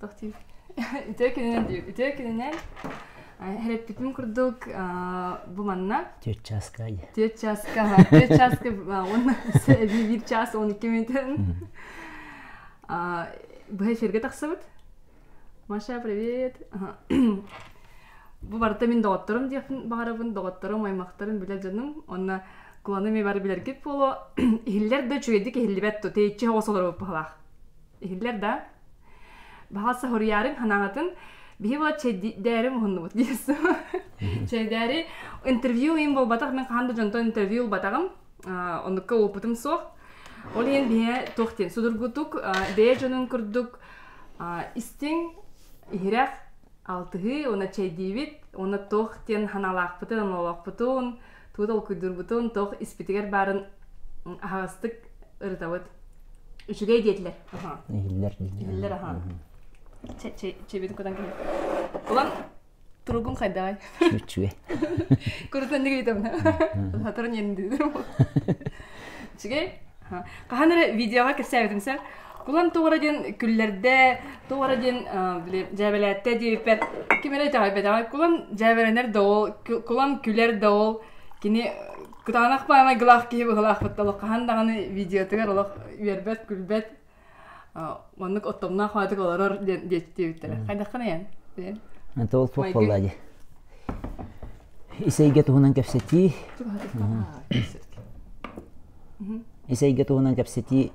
Туох диир үтүө күнүнэн диир үтүө күнүнэн эрэппитим курдук бу манна төрт чааска төрт чааска төрт чааска уонна биир чаас он икки мүнөтүн быһа эфиргэ тахсыбыт маша привет бу барыта мин доҕотторум диэхпин баҕарабын доҕотторум аймахтарын билэр дьонум онно куланы ми бары билэргит буолуо иһиллэр да үчүгэйдик иһиллибэт ту теиччи хоҕос олоробут баһылаах иһиллэр да баһалса хоруярың ханаҥатын биһи була чэйдээри муһуннубут диэсу чэйдээри интервью им болбатах мен хаһан да дьонтон интервью улбатагым оннукка опытым суох ол иһин биһэ тохтин судургутук бэйэ дьонун курдук истиҥ иһирэх алтыһыы уна чэйдиибит уна тох диэн ханалаахпытын ылалахпытын Тугу толкуйдуурбутун, туох испитигэр баарын аһаҕастык ырытабыт. Үчүгэй диэтилэр. Аха. Иһиллэр. Иһиллэр аха. Чэбин кутан киһи. Улан туругун хайдаҕай? Үчүгэй. Курутан диги үтөбүнэ. Хаторун ерин дүү. Үчүгэй. Хахан эрэ видеоға кірсәбетім сәр. Улам туора дин күллэрде, туора дин дьээбэлээтте диэппэт, ким эрэ итэҕэйбэтэҕэ, кулам дьээбэлэнэр да ол, кулам күлэр да ол, кини кутаанах баамай гылаах киһи быһылаахпытта олох хаһан даҕаны видеотыгар олох үөрбэт, күлбэт, оннук оттомнаах маатык олорор диэн диэттиэбиттэрэ. Хайдаххана ян? Это ол туох буолла ди? Исэйгэ туһунан кэпсэтии. ис эйгэ туһунан кэпсэтии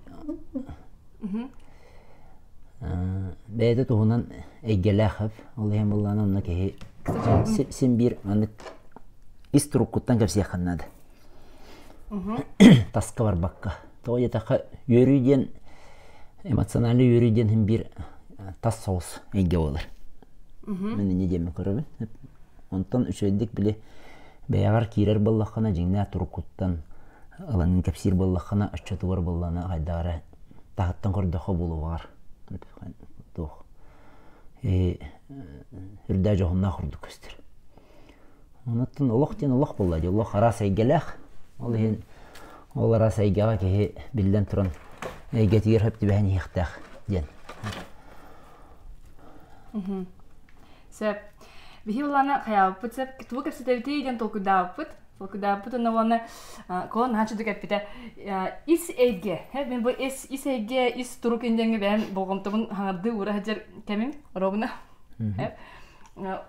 бэйэтэ туһунан эйгэлээх ол иһин буоллаҕына онно киһи син биир маннык ис туруккуттан кэпсиэххэ наада таска барбакка тоҕо диэтэххэ үөрүү диэн эмоциональный үөрүү диэн иһин биир тас соҕус эйгэ буолар мин инньэ диэммин көрөбүн Онтон үчүгэйдик били бэйэҕэр киирэр буоллаххына, дьиҥнээх туруккуттан ыланын кэпсиир буоллаххына, оччотугар буоллаҕына хайдах эрэ таһыттан көрдөххө буолуоҕар туох э, үрдээх дьоһуннаах ордук көстөр. Онтон олох диэн олох буолла дии, олох араас эйгэлээх. Ол иһин ол араас эйгэҕэ киһи биллэн туран эйгэтигэр хөп түбэһэн иһиэхтээх диэн. Сөп. Биһи ыланы хаябыппыт сеп тугу кэпсэтэбитий диэн толкуйдаабыппыт. Толкуйдаабыппыт уонна уонна куон нааччы эппитэ ис эйге мен бу ис ис эйге ис турук индеңи бэйэн болҕомтобун хаҥардыы уура сылдьар кэмим робуна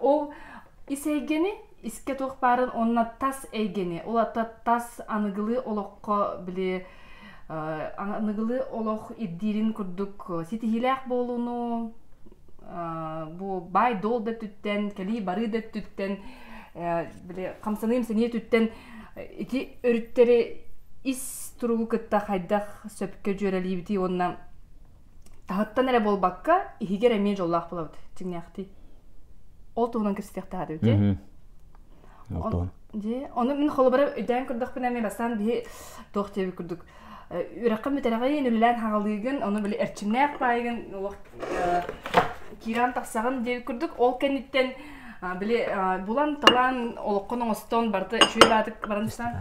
ол ис эйгэни искэ туох баарын онна тас эйгэни ол ата тас аныгылыы олоххо били аныгылыы олох ирдиирин курдук ситиһиилээх буолууну бу баай долл да өттүттэн кэлии барыы да өттүттэн били хамсаныы имсэнии өттүттэн ити өрүттэри ис туругу кытта хайдах сөпкө дьүөрэлиибитий уонна таһыттан эрэ буолбакка иһигэр эмиэ дьоллоох буолабыт дьиҥнээхтии ол туһунан кэпсэтиэхтээх эбит дьэ ону мин холобура өйдөөн көрдөхпүнэ эмиэ бастаан биһи туох диэбит курдук үрэххин бүтэрэҕин үлэлээн хаҕалыыгын ону били эрчимнээх баайгын олох киирэн тахсаҕын диэбит курдук ол кэнниттэн били булан талаан олоххун оҥостон барыта үчүгэй баатык баран ыстаҕа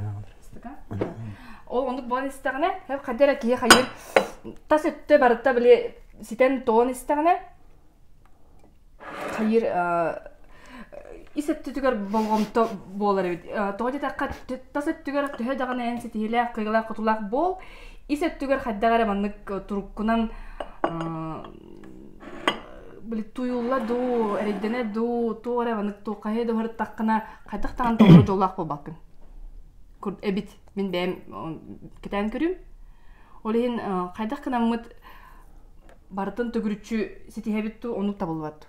ол оннук буолан истэҕинэ хадьа эрэ киһи хайыыр тас өттө барыта били ситэн тоҕон истэҕинэ хайыыр ис өттүтүгэр болҕомто буолар эбит тоҕо диэтэххэ тас өттүгэр төһө даҕаны эн ситиһиилээх кыайыылаах хотуулаах буол ис өттүгэр хайдах эрэ маннык туруккунан били туйулла дуу эрэйдэнэ дуу туох эрэ маннык туох хайа да барыттаххына хайдах даҕаны толору дьоллоох буолбаккын эбит мин бэйэм кэтээн көрүм ол иһин хайдах кынаммыт барытын төгүрүччү ситиһэбит ту ону табылбат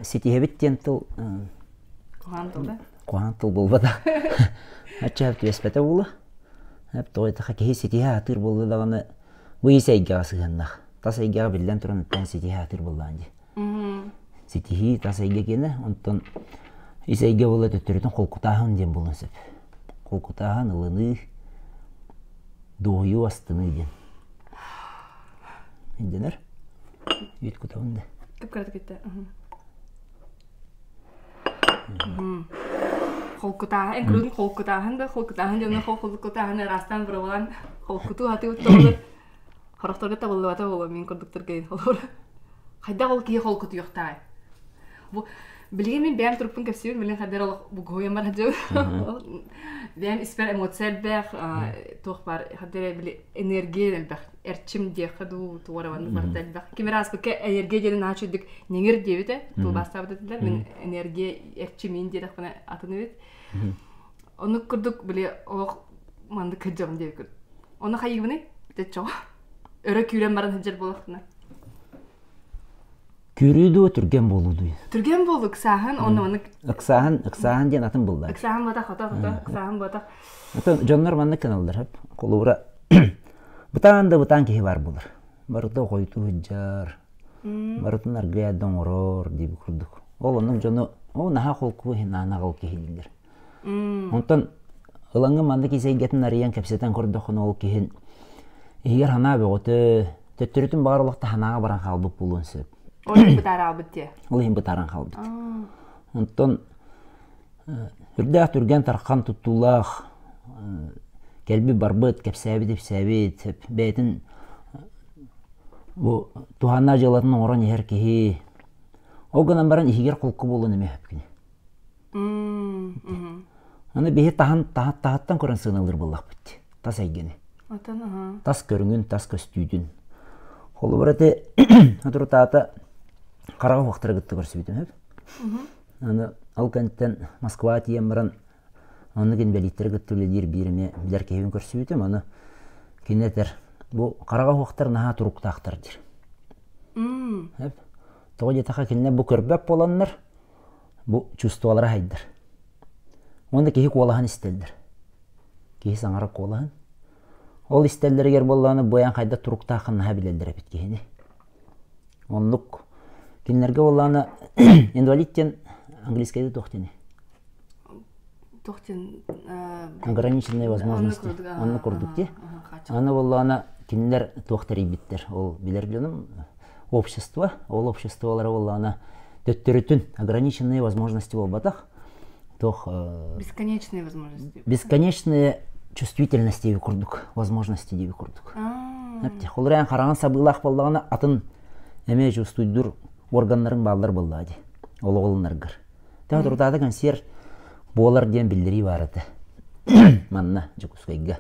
ситиһэбит диэн тыл куһаан тыл да куһаан тыл булбата аччаап түбэспэтэ була эп тоғайтаха киһи ситиһэ атыыр булду даҕаны бу ис эйгэҕэ сыһыаннах тас эйгэҕэ биллэн туран ыттан ситиһэ атыыр буллаан ди Ситиһии тас эйгэ киэнэ, онтон ис эйгэ буолла төттөрүтүн холкутааһын диэн буолуон сөп. Холкутааһын, ылыныы, дуоһуйуу, астыныы диэн. Ирдэнэр? Үүт кутабын да. Кып кыратык үттэ. Холкутааһын, инклюдин холкутааһын да, холкутааһын дьонун холкутааһын ыраастаан бырабылан холкутуу хатыы утталыр Хорохторго табыллыбата буолуо мин курдуктарга холобур хайдах ол киһи холкутуйахтаҕай бу билигин мин бэйэм туруппун кэпсиибин билин хайдар олох бугуйам бар дьыл бэйэм испэр эмоция элбэх туох бар хайдары били энергия элбэх эрчим диэххэ дуу туораван барда элбэх ким ааспыкка энергия диэн аачыдык неңир диэбитэ тулбаастаабыт этилэр мин энергия эрчимиин диэтэхпинэ атын эбит Онук курдук били олох маннык кырдьабын диэбит курдук. Оны хайыгыбыный? Бүтөччөҕө. Өрө күүрэн баран сылдьар буолахтына. Күүрүү дуу, түргэн буолуу дуу? Түргэн буолук сааһын, онно маннык Ыксааһын, ыксааһын диэн атын быллар. ыксааһын буотах хото хото, ыксааһын буотах. Атын дьоннор маннык гыналлар хеп. Холуура бытаан да бытаан киһи баар булар. Барыта хойутуу сылдьар, барытын аргыый да оҥорор дии бу курдук ол оннук дьону ол наһаа холку иһин анаҕал киһилииллэр онтон ылаҥҥа маннык ис эйгэтин арыйан кэпсэтэн көрдөххүнэ ол киһин иһигэр санаа бөҕөтө төттөрүтүн баҕар олохто санааҕа баран хаалбыт буолуон сөп ол иһин бытаараалбыт диye ол иһин бытааран хаалбыт онтон Сүрдээх түргэн тархан туттуулаах кэлбит-барбыт, кэпсээбит-ипсээбит бэйэтин бу туһааннаах дьыалатын оҥорон иһэр киһи ол гынан баран иһигэр холку буолуон эмиэ сөп кини. Аны биһи таһын таһыттан көрөн сыаналыыр буоллахпыт. Тас эйгэни. Атын Тас көрүҥүн, тас көстүүтүн. Холобур ити соторутаата хараҕа уохтара кытта көрсүбүтүм сөп. Аны ол кэнниттэн Москваҕа тиийэн баран оннук инбэлииттэри кытта үлэлиир биир эмиэ билэр киһибин көрсүбүтүм. Аны кини этэр, бу хараҕа уһуохтар наһаа туруктаахтар диир. Тоҕо диэтэххэ кинилэр бу көрбөт буоланнар бу чувстволара сайдар. Уонна киһи куолаһын истэллэр. Киһи саҥара куолаһын. Ол истэллэригэр буоллаҕына бу айан хайда туруктаахын наһаа билэллэр эбит киһини. Оннук. Кинилэргэ буоллаҕына инвалид диэн английскайда туох диэни? Туох диэн ограниченные возможности аны курдук ди аны буоллаҕына кинилэр туох тэрийбиттэр ол билэр билиным общество ол обществолара буоллаҕына төттөрүтүн ограниченные возможности буолбатах Туох бесконечные возможности. Бесконечные чувствительности диэби курдук, возможности диэби курдук. Аптех. Олор эн хараҥан сабыылаах боллаҕына атын эмee чувствуйдур органнарын бааллар боллаа ди. Олоҕолунаргар. Таа турутаата консерв буолар диэн биллерии бар ата. Манна Дьокускайга.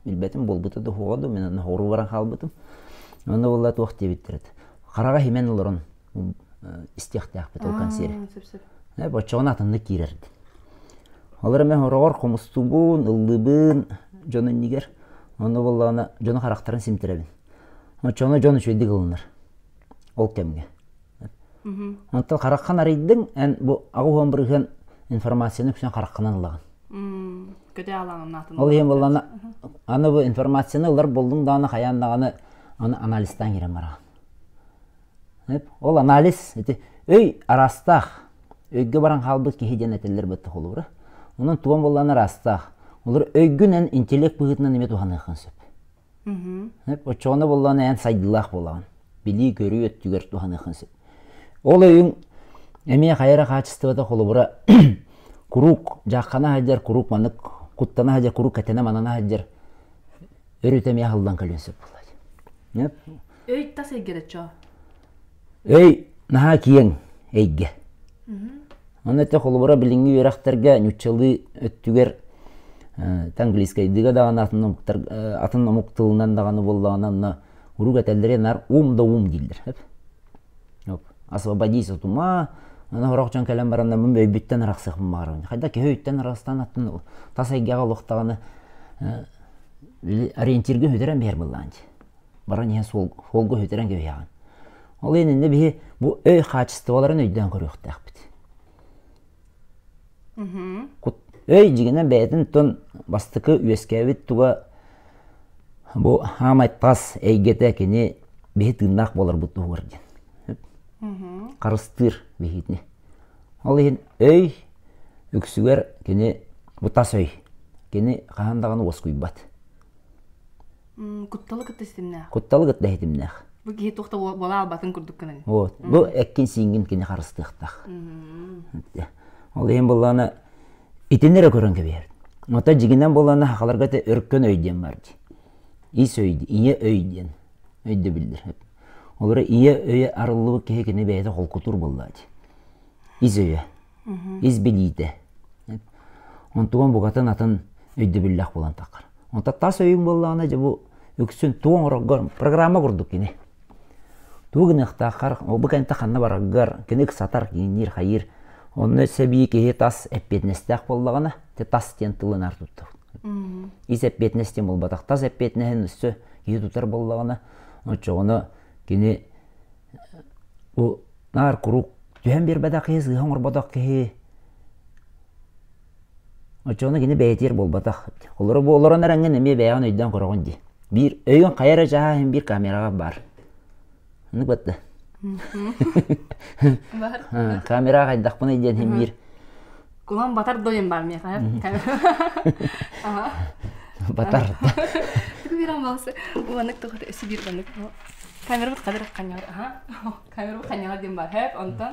Билбэтим болбута да хоҕо да мен аны хору баран хаалбытым. Онно болла туох диэбиттер ата. Хараҕа химен олорон истиэхтээхпит ол консерв боччоҕун атыннык киирэрбит олор эмэ хороҕор хомустубун ыллыбын дьон иннигэр онно буоллаҕына дьону харахтарын симтирэбин оччоҕуна дьон үчүгэйдик ылынар ол кэмҥэ онтон хараххан арыйдыҥ эн бу аҕыс уон бырыһыан информацияны үксүн хараххынан ылаҕын ол иһин буоллаҕына аны бу информацияны ылар болдуҥ даҕаны хайаан даҕаны аны анализтаан киирэн бараҕын Ол анализ ити өй араастаах, өйгө баран хаалбыт киһи диэн этэллэр быттахолуура. Онон туган буоллаҕына ыраастаах. Олор өйгүнэн, интеллект быһыытынан эмиэ туһаныаххын сөп. Оччоҕуна буоллаҕына эн сайдыылаах буолаҕын. Билии-көрүү өттүгэр туһаныаххын сөп. Ол өйүҥ эмиэ хайа эрэ хаачыстыбата холобура куруук дьааххана сылдьар, куруук маннык куттана сылдьар, куруук кэтэнэ-манана сылдьар өрүтэ эмиэ аһыллан кэлиэн сөп буолла. Өй тас эйгэрэ чо? Өй наһаа киэҥ эйгэ. Аны өтө холобура билиҥҥи үөрэхтэргэ ньуччалыы өттүгэр английскайдыга даҕаны атын омуктар атын омук тылынан даҕаны буоллаҕына онно урук этэллэрэ наар ум да ум дииллэр. Оп. Освободись от ума, аны хорох дьон кэлэн баран мин өйбүттэн арахсыахпын баҕарабын. Хайда киһи өйтөн арахстан аттын тас эйгэҕэ олохтаҕына ориентирга хүтэрэн биһэр быллаан дии. баран иһэн суолга үһүтэрэн кэбиһэҕин. Ол иһин иннэ биһи бу өй хаачыстыбаларын өйдөөн көрүөхтээхпит. Өй дьигинэн бэйэтин тон бастакы үөскээбит туга бу хаамай тас эйгэтэ кини биһи тыыннаах буоларбыт туһугар диэн. Харыстыыр биһигини. Ол иһин өй үксүгэр кини бу тас өй кини хаһан даҕаны уоскуйбат. кутталы кытта ситимнээх кутталы кытта ситимнээх бу киһи туох да буола албатын курдук гынан вот бу эккин сиингин кини харыстыахтаах ол иһин буллаана итини эрэ көрөн кэбиһэр ото дьигинэн буллаана хахаларга те өркөн өй диэн бар ди ис өй ийэ өй диэн өйдөбүлдэр олора ийэ өйө арыллыбыт киһи кини бэйэтэ холкутур буллаа ди ис өйө ис билиитэ онтуган бугатын атын өйдөбүллээх булан таххар Онто тас өйүҥ буоллаҕына, дьэ бу үксүн тугу оҥороргор программа курдук кини. Тугу гыныахтааххар, бу кэнтэ ханна бараргар, кини ыксатар, киинниир-хайыыр. Онно сэбии киһи тас эппиэтинэстээх буоллаҕына, те тас диэн тылынан туттар. Ис эппиэтинэс диэн буолбатах. Тас эппиэтинэһин өссө киһи тутар буоллаҕына, оччоҕуна кини бу наар куруук түһэн биэрбэтэх киһи, сыыһа оҥорботох киһи Оччоҕуна кини бэйэтигэр буолбатах. Олоро бу олорон эрэҥҥин эмиэ бэйэҕин өйдөөн көрөҕүн дии. Биир өйүҥ хайа эрэ чааһа иһин биир камераҕа баар. Оннук батта. Бар. Haa, камераҕа хайдахпыный диэн иһин биир Кулан батар дойун баар миэхэ. Аха. батар. Биран балсы. Уаннык тухары өсі бір уаннык. Камерабыт қадыр қаньяр. Аха. Камерабыт қаньяр ден бар. Хэп онтон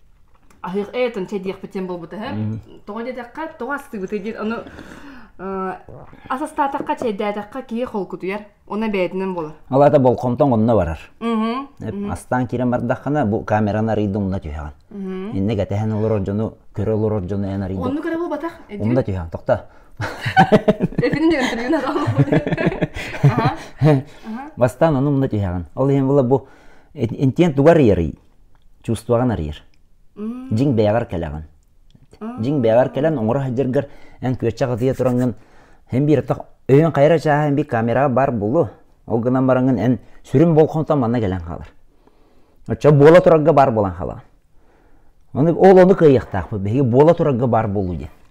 аһыах эйэтин чэй диэхпит син буолбут үһү тоҕо диэтэххэ тоҕо астыыбытый диэн ону ас астаатахха чэйдээтэххэ киһи холкутуйар уна бэйэтинэн буолар алата болкомтон онно барар астаан киирэн бардаххына бу камераны арыйда умна түһэҕин инник этэһэн олорор дьону көрө олорор дьону эн арыйда онну көрө буолбатах умна түһэҕин тохто бастаан ону умна түһэҕин ол иһин була бу интиэн тугар ыйарый чувствоҕын арыйар. Дьиҥ бэйэҕэр кэлэҕин. Дьиҥ бэйэҕэр кэлэн оҥоро сылдьаргар эн күөччэх ытыйа тураҥҥын эн биир атах өйүн хайара чааһын бик камераҕа баар булу. Ол гынан бараҥҥын эн сүрүн болҕомтоҥ манна кэлэн хаалар. Оччо буола турарга баар буолан хаалаҕын. Ону ол ону кыайыахтаахпыт биһиги буола турарга баар буолуу диэн.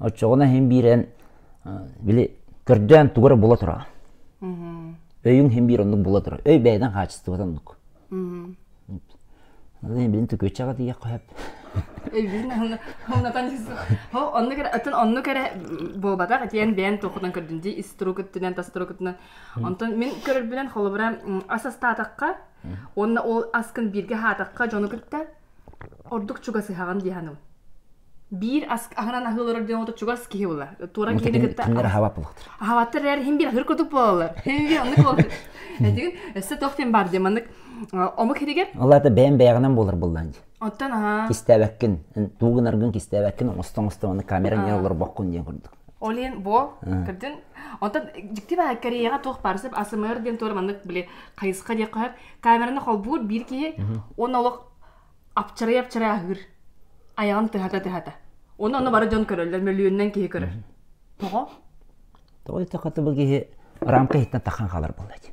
Оччоҕуна иһин биирэн били көрдөөн тугу эрэ була тура. Өйүҥ иһин биир оннук була тура. Өй бэйэтин хаачыстыбатын оннук. Билин төкүөччэҕэ тиийэх хоһеп. Өйүн оннатан оннук эрэ атын оннук эрэ буолбатах этиэн бэйэн туохутан көрдүн ди иструкуттунан тастырукутунан онтон мин көрөрбүнэн холобура ас астаатахха уонна ол аскын бииргэ хаатахха дьону кытта ордук чугасыһаҕын дии саныым. Биир ас аһынан аһыы олорор диэн отут чугас киһи була. Туора киһини кытта кинилэр аһаабаппылар. Аһаабаттар эрээри иһин бир аһыыр курдук буолаллар. Иһин оннук буолаллар. Этигин өссө туох диэн баар диэн маннык омук иһигэр. Аллата бэйэм бэйэҕинэн буолар буллаан дии. Оттон аһаа. Кистээбэккин, тугунаргын кистээбэккин оҥосто оҥосто маннык камера не олорбоккун диэн курдук. Ол иһин бу кырдьын онтон дьиктив Кореяҕа туох баар сып АСМР диэн туора маннык били хайысха диэх хойар камераны холбуур биир киһи уонна олох апчарай-апчарай аһыыр айаҕын тыһата-тыһата. Оны ону бары дьон көрөллөр, мөлүйүөннэн киһи көрөр. Тоҕо? Тоҕо этэ хата бу киһи рамка иһиттэн тахан халар буолла дии.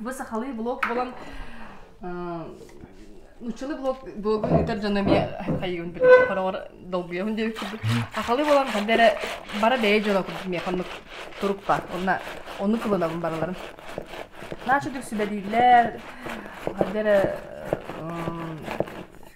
Бу сахалыы блог болан нуччалыы блог блогу ыытар дьоно эмиэ хайгын билбит хороҕор долгуйабын диэбит курдук сахалыы болан ханна эрэ бара бэйэ дьоно курдук миэхэ оннук турукпа онно оннук кылынабын барыларын наача дүксүбэлииллэр ханна эрэ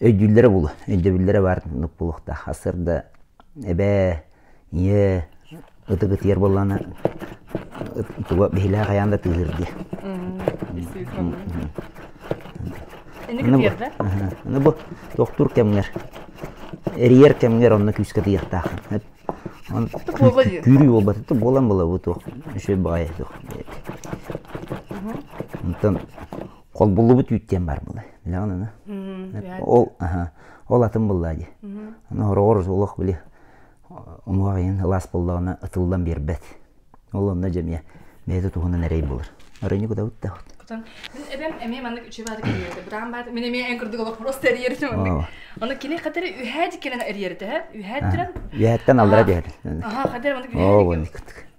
өйдүүллэрэ буолуо өйдөбүллэрэ баар муннук буолуохтаах астар да эбээ ийээ ытык ытыйар буоллаҕына туга биһилэҕи хайаан да тыыһыыр дии аны бу тохтуур кэмҥэр эрийэр кэмҥэр онно күүскэ тыйыахтааххын күүрүү буолбатыт буолан була бу туох үчүгэй баҕайы туох онтон холбуллубут үүт диэн баар буолай билэҕин аны ол ол атын буллаа дии аны хороҕор олох били омук айын ылаас боллоҕуна ытыллан биэрбэт ол онно дьэмиэ бэйэтэ туһунан эрэй булар өрөнү куда бутта кутан эбэм эмиэ маннык үчү баады кэлиэрэ быраан баады мин эмиэ эн курдук олох просто эрийэр маннык ону кини катары үһээ дикинен эрийэрэ үһээ диран үһээттен аллара диэхэр аха катар маннык үһээ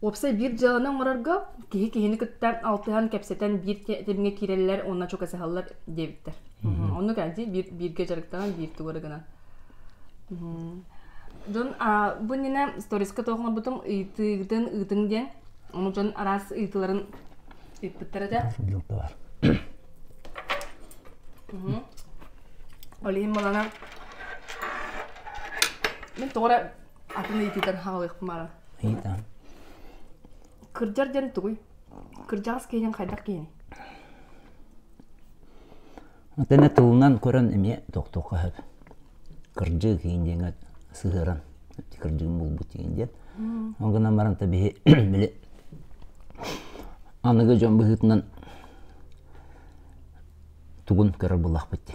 Уопсай биир дьыаланы оҥорорго киһи киһини кытта алтыһан, кэпсэтэн биир тэмҥэ киирэллэр уонна чугасыһаллар диэбиттэр. Оннук энди биир бииргэ дьарыктанан биир тугары гынан. Дьон бу иннинэ сториска тоох оҥорбутум ыйытыытын ыытыҥ диэн ону дьон араас ыйытыыларын ыыппыттар этэ. Олиһин балана мен тоҕо атын ыйытыытан хаалыахпын баара ыйытаан кырдьар дьэн тугуй кырдьаҕас киһинин хайдах киһиний Отене тылынан көрөн эмиэ тохтуохха сөп. Кырдьыы киин диэҥэ сыһыаран кырдьыгын булбут диэн диэн. Ол гынан баран табиһи били аныгы дьон быһыытынан тугун көрөр буллахпыт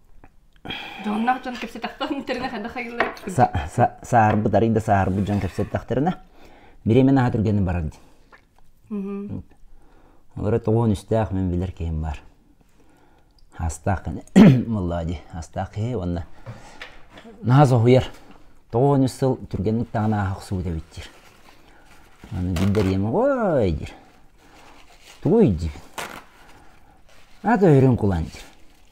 Дьоннох дьон кэпсэтахтарын иттэринэ хайдах хайыыллара? Саарбыт арыйда саарбыт дьон кэпсэттахтарына, бириэмэ наһаа түргэнник барар дии. Олору тоҕуон үстээх мин билэр киһим баар. Астаах мыллаа дии, астаах киһи уонна наһаа соһуйар. Тоҕуон үс сыл түргэнник таҕан ааһа охсубут эбит диир. Аны билдэриэм, ой диир. Тугуй дии. Ата өрүн кулан диир.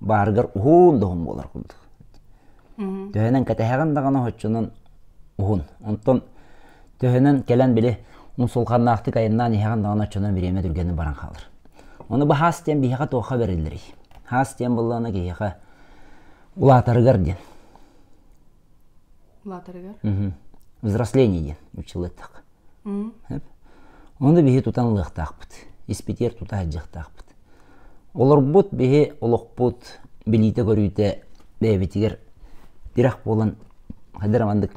баарыгар уһун да уһун буолар курдук. Төһөнөн кэтэһэҕин даҕаны оччонон уһун. Онтон төһөнөн кэлэн били мусулханнаахтык айаннаан иһэҕин даҕаны оччонон бириэмэ түргэнник баран хаалар. Ону бу хаас диэн биһиэхэ туохха бэриллэрий? Хаас диэн быллаана киһиэхэ улаатарыгар диэн. улаатарыгар взросление диэн училыттах ону биһи тутан ылыахтаахпыт испитиэр тута аһдьыахтаахпыт олорбут биһи олохпут билиитэ көрүүтэ бэйэбитигэр тирэх буолан хайдара маннык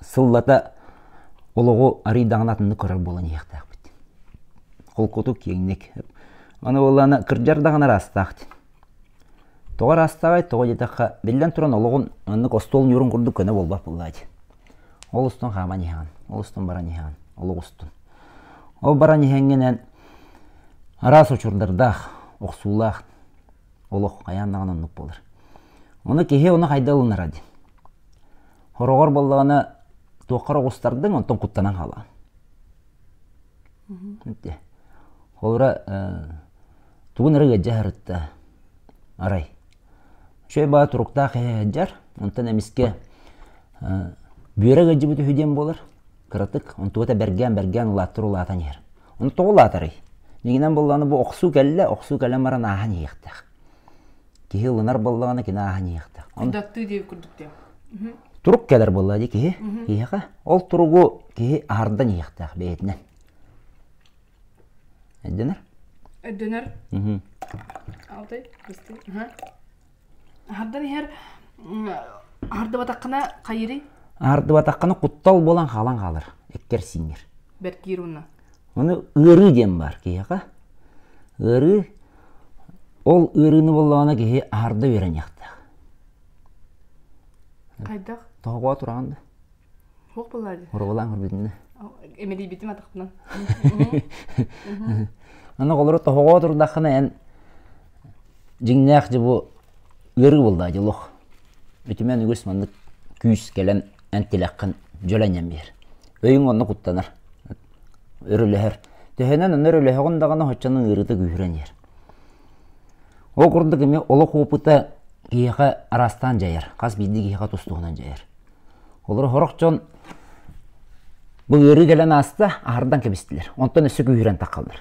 сыллата олоҕу арыйдаҕына атыннык көрөр буолан иһиэхтээхпит холкутук киэҥник аны буоллаана кырдьар даҕаны ыраастаахтын Тоҕо ыраастааҕай, тоҕо диэтэххэ, биллэн туран олоҕун маннык остуол ньуурун курдук көнө буолбат буоллаҕа дии. Ол устун хааман иһэҕин, ол устун баран иһэҕин, олох устун. Ол баран иһэҥҥинэн араас учурдардаах, охсуулаах олох хайаан даҕаны оннук буолар. Ону киһи ону хайда ылынара дии. Хороҕор буоллаҕына туохха оҕустардыҥ, онтон куттанан хаалаҕын. Холура тугун эрэ ыалдьа сырытта арай үчүгэй баҕа туруктаах иһэ сылдьар онтон эмискэ бүөрэ ыалдьыбыт үһү диэн буолар кыратык онтуга да бэргээн бэргээн улааттар улаатан иһэр ону тоҕо улаатарый миигинэн буоллаҕына бу охсуу кэллэ охсуу кэлэн баран ааһан иһиэхтээх Киһи ылынар буоллаҕына кини ааһан иһиэхтээх. Ындаттыы диир курдук диэн. Турук кэлэр буолла дии киһи. Киһиэхэ. Ол туругу киһи аһардан иһиэхтээх бэйэтинэн. Өйдөнөр? Өйдөнөр. Алтай, кисти. Аһардан иһэр аһардыбатаххына хайырый? Аһардыбатаххына куттал буолан хаалан хаалар. Эккэр сиҥэр. Бэркиир унна. Ону ыарыы диэн баар киһиэхэ. Ыарыы ол ыарыыны боллоҕуна киһи аһарда үөрэниэхтээх. Хайдах? Тоһоҕоо тураҕын да. Туох буолар дии? Оруолаан көрбүтүн да. Имэлийбитим атахпынан. Аны оҕолору тоһоҕоо турдаххына эн дьиҥнээх дьэ бу ыарыы булдаа дьэ олох үтүмэн үгүс маннык күүс кэлэн эн тилэххин дьүлэнэн биэр өйүҥ онно куттанар өрөлөһөр төһөнөн аны өрөлөһөҕүн даҕаны оччону ыарыыта күүһүрэн иһэр ол курдук эмиэ олох опыта киһиэхэ араастаан дьайар хас биирдии киһиэхэ тус-туһунан дьайар олору сорох дьон бу ыарыы кэлэн ааста аһардан кэбистилэр онтон өссө күүһүрэн тахаллар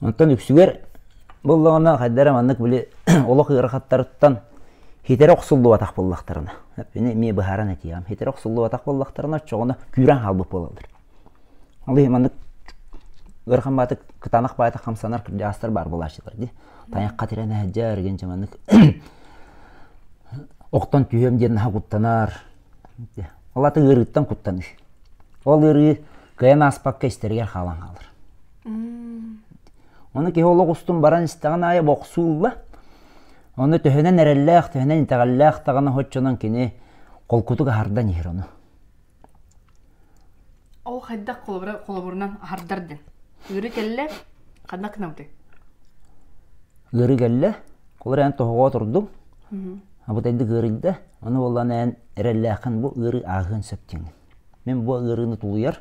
Онтон үксүгэр буллаҕына хайда эрэ маннык били олох ыарахаттарыттан хитэрэ охсуллубатах буоллахтарына ини эмиэ быһааран этиэҕим хитэрэ охсуллубатах буоллахтарына оччоҕуна күүрээн хаалбыт буолаллар ол маннык ыарахан баатык кытаанах баатык хамсанар кырдьаҕастар баар буолааччылар дии тайахха тирэн иһэдьэр эгин дьэ маннык охтон түһүөм диэн наһаа куттанар Ол ата ыарыыттан куттаныы. Ол ыарыы кыайан ааспакка истэригэр хаалан хаалар. Ону киһи олох устун баран истэҕин аайы бохсуулла. Ону төһөнөн эрэллээх, төһөнөн итэҕэллээх даҕаны оччонон кини холкутук аһардан иһэр ону. Ол хайдах холобура холобурунан аһардар дин. Ыыры кэллэ, ханна кынабытый? Ыыры кэллэ, кулар эн тоһоҕо турдум. Абыт эндик ыырыйда. Ону боллан эн эрэллээхин бу ыыры ааһыан сөптеңин. Мен бу ыырыны тулуйар,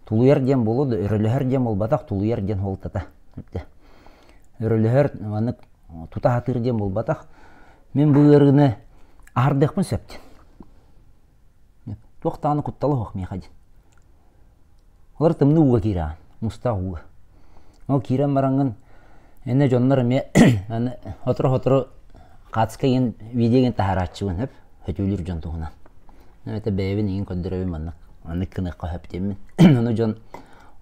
тулуйар диэн болуду, өрөлөһөр диэн болбатах, тулуйар диэн болтата. Өрөлөһөр маннык тута хатыр диэн болбатах. Мен бу ыырыны аһардыахпын сөптен. Туох даҕаны куттала суох миэхэ дии. Олор тымныы ууга киирэҕин, мустаах ууга. Ол киирэн бараҥҥын эн дьоннор эмиэ аны сотору-сотору хаацыска иҥин видео игин таһаарааччыбын сөп сөтүөлүүр дьон туһунан. Эбэтэр бэйэбин игин көрдөрөбүн маннык маннык гыныахха сөп диэммин. Ону дьон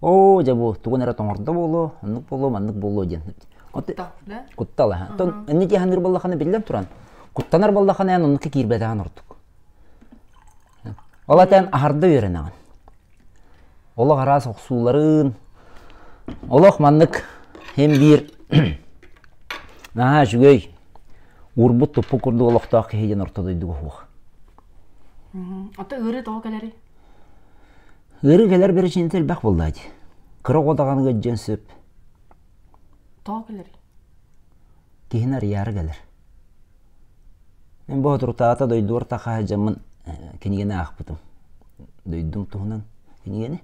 оо дьэ бу тугун эрэ тоҥордо буолуо оннук буолуо маннык буолуо диэн. Куттал ээ. Оттон инники саныыр буоллаххына биллэн туран куттанар буоллаххына эн оннукка киирбэтэҕин ордук. Ол этэн аһарда үөрэнэҕин. Олох араас охсууларын олох маннык һин-биир наһаа үчүгэй уурбут туппут курдук олохтоох киһи диэн орто дойдуга уһуох. Ата ыарыы тоҕо кэлэрий? Ыарыы кэлэр бэрэчиинэтэ элбэх буоллаа дии. Кыра оҕо даҕаны ыалдьыан сөп. Тоҕо кэлэрий? киһини арыйаары кэлэр. Мин боотурутаата дойдугар таха сылдьаммын кинигэни аахпытым. Дойдум туһунан кинигэни.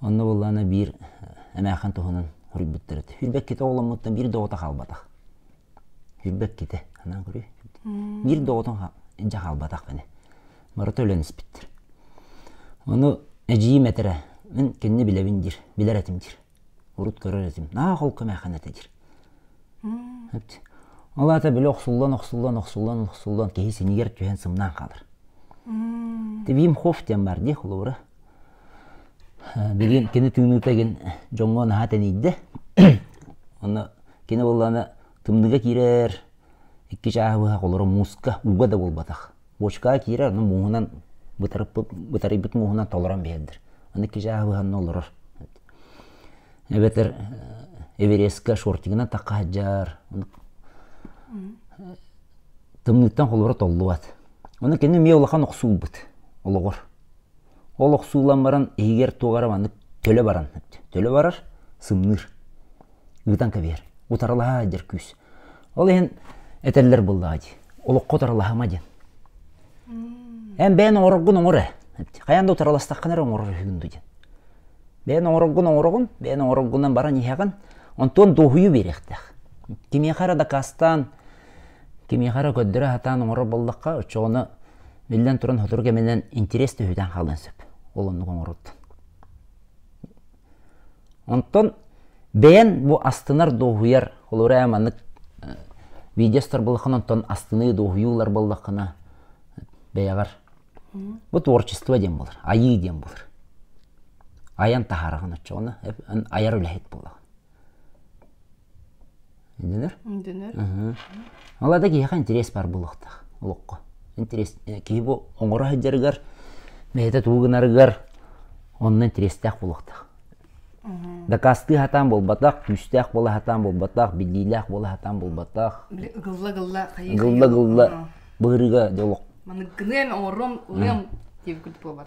Онно буоллаана биир эмээхэн туһунан хоруйбуттар этэ. Хүрбэккитэ оҕоломмуттан биир доҕото хаалбатах. Хүрбэккитэ. Анаан көрүүй. Биир доҕотун дьэ хаалбатах мини. Барыта өлөн испиттэр. Ону эдьиийим этэрэ, мин кинини билэбин диир, билэр этим диир. урут көрөр этим наах ол көмээхэнэ этэ диир ол аата били охсуллан охсуллан охсуллан охсуллан киһи синигэр түһэн сымнаан хаалар тибиим хоф диэн баар дии холобура билигин кини тыыныыта гин дьоҥҥо наһаа тэнийдэ онно кини буоллаана тымныга киирэр икки чааһы быһа холоро мууска ууга да буолбатах бочкаҕа киирэр аны мууһунан бытарыйбыт мууһунан толорон биэрдэр аны кижааһы быһанна олорор эбэтэр эверестка шортигынан тахха сылдьар тымныыттан холоро толлубат ону кини эмиэ улахан охсуурбут олоҕор Ол охсуулан баран иһигэр туох эрэ маннык төлө баран төлө барар, сымныыр. Ыытан кэбиһэр. Утарылаһа дьэр күүс. Ол иһин этэллэр буллаҕа дии. Олоххо утарылаһыма диэн. Эн бэйэн оҥороргун оҥор ээ. Хайаан да утарыластаххына эрэ оҥорор үһүгүн дуу диэн. Бэйэн оҥороргун оҥороҕун, бэйэн оҥороргунан баран иһэҕин, онтон дуоһуйу биэриэхтээх. Кимиэхэ эрэ дакаастаан, кимиэхэ эрэ көрдөрө сатаан оҥорор буоллахха, оччоҕуна, биллэн туран, сотору кэминэн интириэс төһүтэн хаалыан сөп ол оннук оҥороргутун. Онтон бэйэн бу астынар, дуоһуйар, олору ээ маннык видеостар буоллаххына, онтон астыныы, дуоһуйуулар буоллаххына, бэйэҕэр бу творчество диэн буолар, айыы диэн буолар. Айан таһаараҕын оччоҕуна, айар үлэһит буолаҕын. Дэнэр? Дэнэр. Ол да киһиэхэ интириэс баар буолуохтаах олоххо. Интириэс киһи бу оҥоро сылдьарыгар, бэйэтэ тугу гынарыгар онно интириэстээх буолуохтаах. Дакаастыы сатаан буолбатах, күүстээх буола сатаан буолбатах, биллиилээх буола сатаан буолбатах. Гылла-гылла хайыы Гылла-гылла быһырыга де олох. Маныгыныам оҥоруом, ылыам диэбиккит буолбат.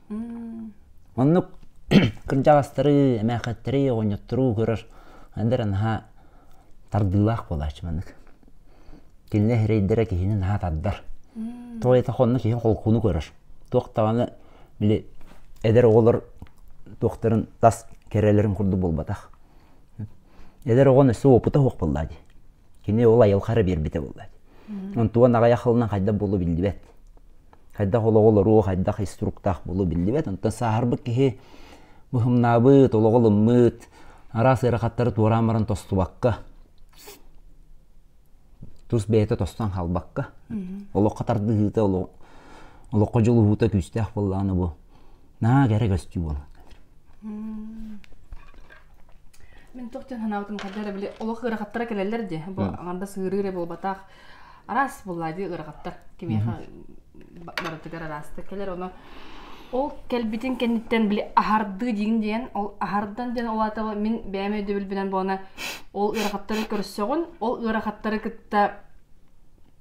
Маннык кырдьаҕастары, эмээхэттэри оҕонньоттору көрөр эдэр наһаа тардыылаах буолааччы маннык. Кинилэр эрэйдэрэ киһини наһаа тардар. Тоҕо диэтэр онно киһи холкуону көрөр. Туох даҕаны били эдэр оҕолор туохтарын тас кэрэлэрин курдук буолбатах. Эдэр оҕону өссө уопута суох буоллаа дии. Кини ол айылхара биэрбитэ буолла. Антон аҕай ахылынан хайдах буолу биллибэт. Хайдах олоҕу олоруу, хайдах инструктаах буолу биллибэт. Онтон сааһырбыт киһи быһымнаабыт, олоҕу ылыммыт, араас ыарахаттары туораан баран тостубакка, тус бэйэтэ тостон хаалбакка, олоххо тардыһыыта, олоххо дьулуһуута күүстээх буоллаҕына бу Наа кэрэ көстүү буолан. Мин туох диэн санаабытым хайда эрэ били олох ыарахаттара кэлэллэр дии. Бу аҥардас ыарыы эрэ буолбатах. Араас буоллаа дии ыарахаттар. Кимиэхэ барытыгар араастык кэлэр ону ол кэлбитин кэнниттэн били аһардыы диин диэн ол аһардан диэн ол аата мин бэйэм өйдөбүл билэн буона ол ыарахаттары көрсөҕүн ол ыарахаттары кытта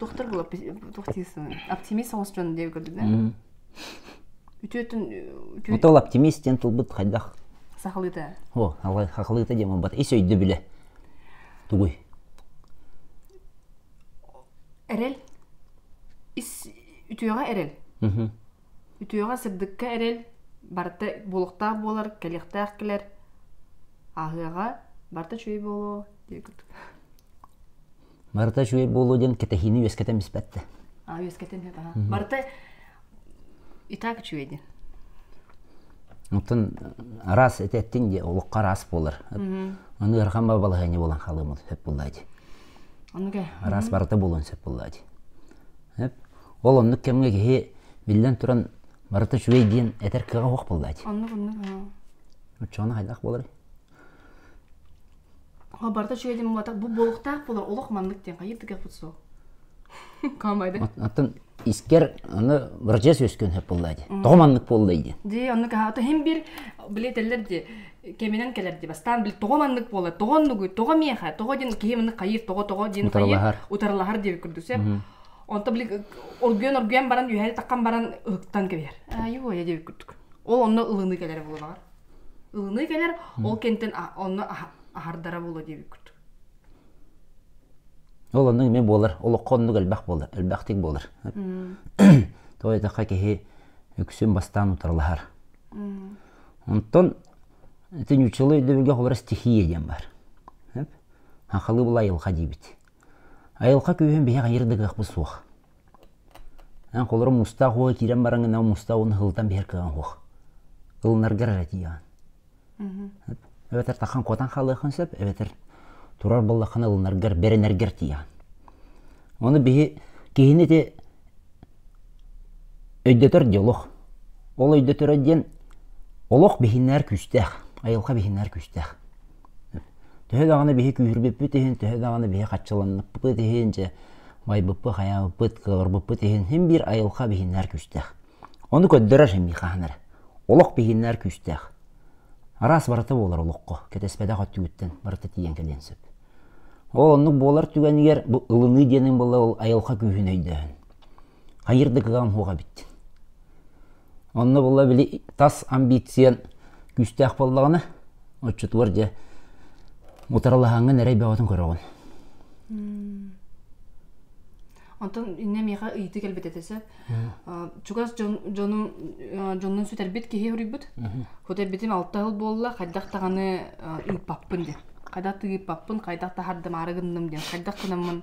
доктор була тухтисын оптимист соңус дьон диэби көрдүк да үтүөтүн ото ол оптимист диэн тылбыт хайдах сахалыыта о хахалыыта диэн буолбат ис өйдөбүлэ тугуй эрэл ис үтүөҕэ эрэл үтүөҕэ сырдыкка эрэл барыта буолуохтаах буолар кэлиэхтээх кэлэр ааһыаҕа барыта үчүгэй буолуо диэн курдук Барыта үчүгэй буолуо диэн кэтэһиини үөскэтэн биспэттэ. А үөскэтэн барыта итак үчүгэй диэн. Оттон араас эти эттин дии олохха араас буолар. Аны ырхан бабалаһыйны болан халымын сөп буллайди. Ануге. Араас барыта болон сөп буллайди. Эп ол оннук кемге киһи биллэн туран барыта үчүгэй диэн этер кыға ох буллайди. Оннук оннук. Уччоны хайдах болар? барыта үчүгэй дим буолбатах бу буолуохтаах буолар олох маннык диэн хайыр тигэрпут суох каамайда аттан искер аны быржес өскөн хеп боллай ди тоҕо маннык боллай ди ди аны каха ата хим бир билетеллер ди кеминен келер ди бастан бил тоҕо маннык болла тоҕо нугуй тоҕо миэхэ тоҕо дин киһи мыны хайыр тоҕо тоҕо дин хайыр утарылахар диэбит курдусе онто били оргуйан оргуйан баран үһәри таккан баран ыһыктан кэбиһэр айуя диэбит курдук ол онно ылыны келер булунаҕар Ылыныы кэлэр, ол кэнтэн онно аһардара буолуо диэбиккут. Ол оннук эмиэ буолар. Олоххо оннук элбэх буолар, элбэхтик буолар. Тоҕо диэтэххэ киһи үксүн бастаан утарылаһар. Онтон итин учула өйдөбүлгэ холобура стихия диэн бар. Хахылы була айылҕа диибит. Айылҕа күүһүн биһи хайыр да кыахпыт суох. Эн холорум мустаах уола киирэн баран гынан мустаах ууну һылытан биһэр кыаҕыҥ уох. Ылынаргар эрэ тиийэҕин. Эбэтэр тахан куотан хаалыаххын сөп, эбэтэр турар буоллаххына ылынаргар, бэринэргэр тиийэҕин. Ону биһи киһини ити өйдөтөр диэн олох. Ол өйдөтөрө диэн олох биһиннэр күүстээх, айылҕа биһиннэр күүстээх. Төһө даҕаны биһи күүһүрбүппүт иһин, төһө даҕаны биһи хаччыланнаппыт иһин, дьэ байбыппыт, хайаабыппыт, кыаларбыппыт иһин, син биир айылҕа биһиннэр күүстээх. Ону көрдөрөр син биир хаһан эрэ. Олох биһиннэр күүстээх. Араас барыта буолар олоххо. Кэтэспэтэх өттүгүттэн барыта тиийэн кэлиэн сөп. Ол оннук буолар түгэнигэр бу ылыныы диэниҥ буолла ол айылҕа күүһүн өйдөөһүн. Хайыыр да кыаҕым суох эбит. Онно була били тас амбициан күүстээх буоллаҕына, оччотугар дьэ утарылаһаҥҥын эрэй бөҕөтүн көрөҕүн. Онтон иннэ миэхэ ыйытыы кэлбит этэ сөп. Чугас дьон, дьонун дьонун сүтэрбит киһи хоруйбут. Хоту эрбитим алта сыл буолла, хайдах даҕаны ыыппаппын диэн. Хайдах тыыппаппын, хайдах таһардымаары гынным диэн, хайдах гынаммын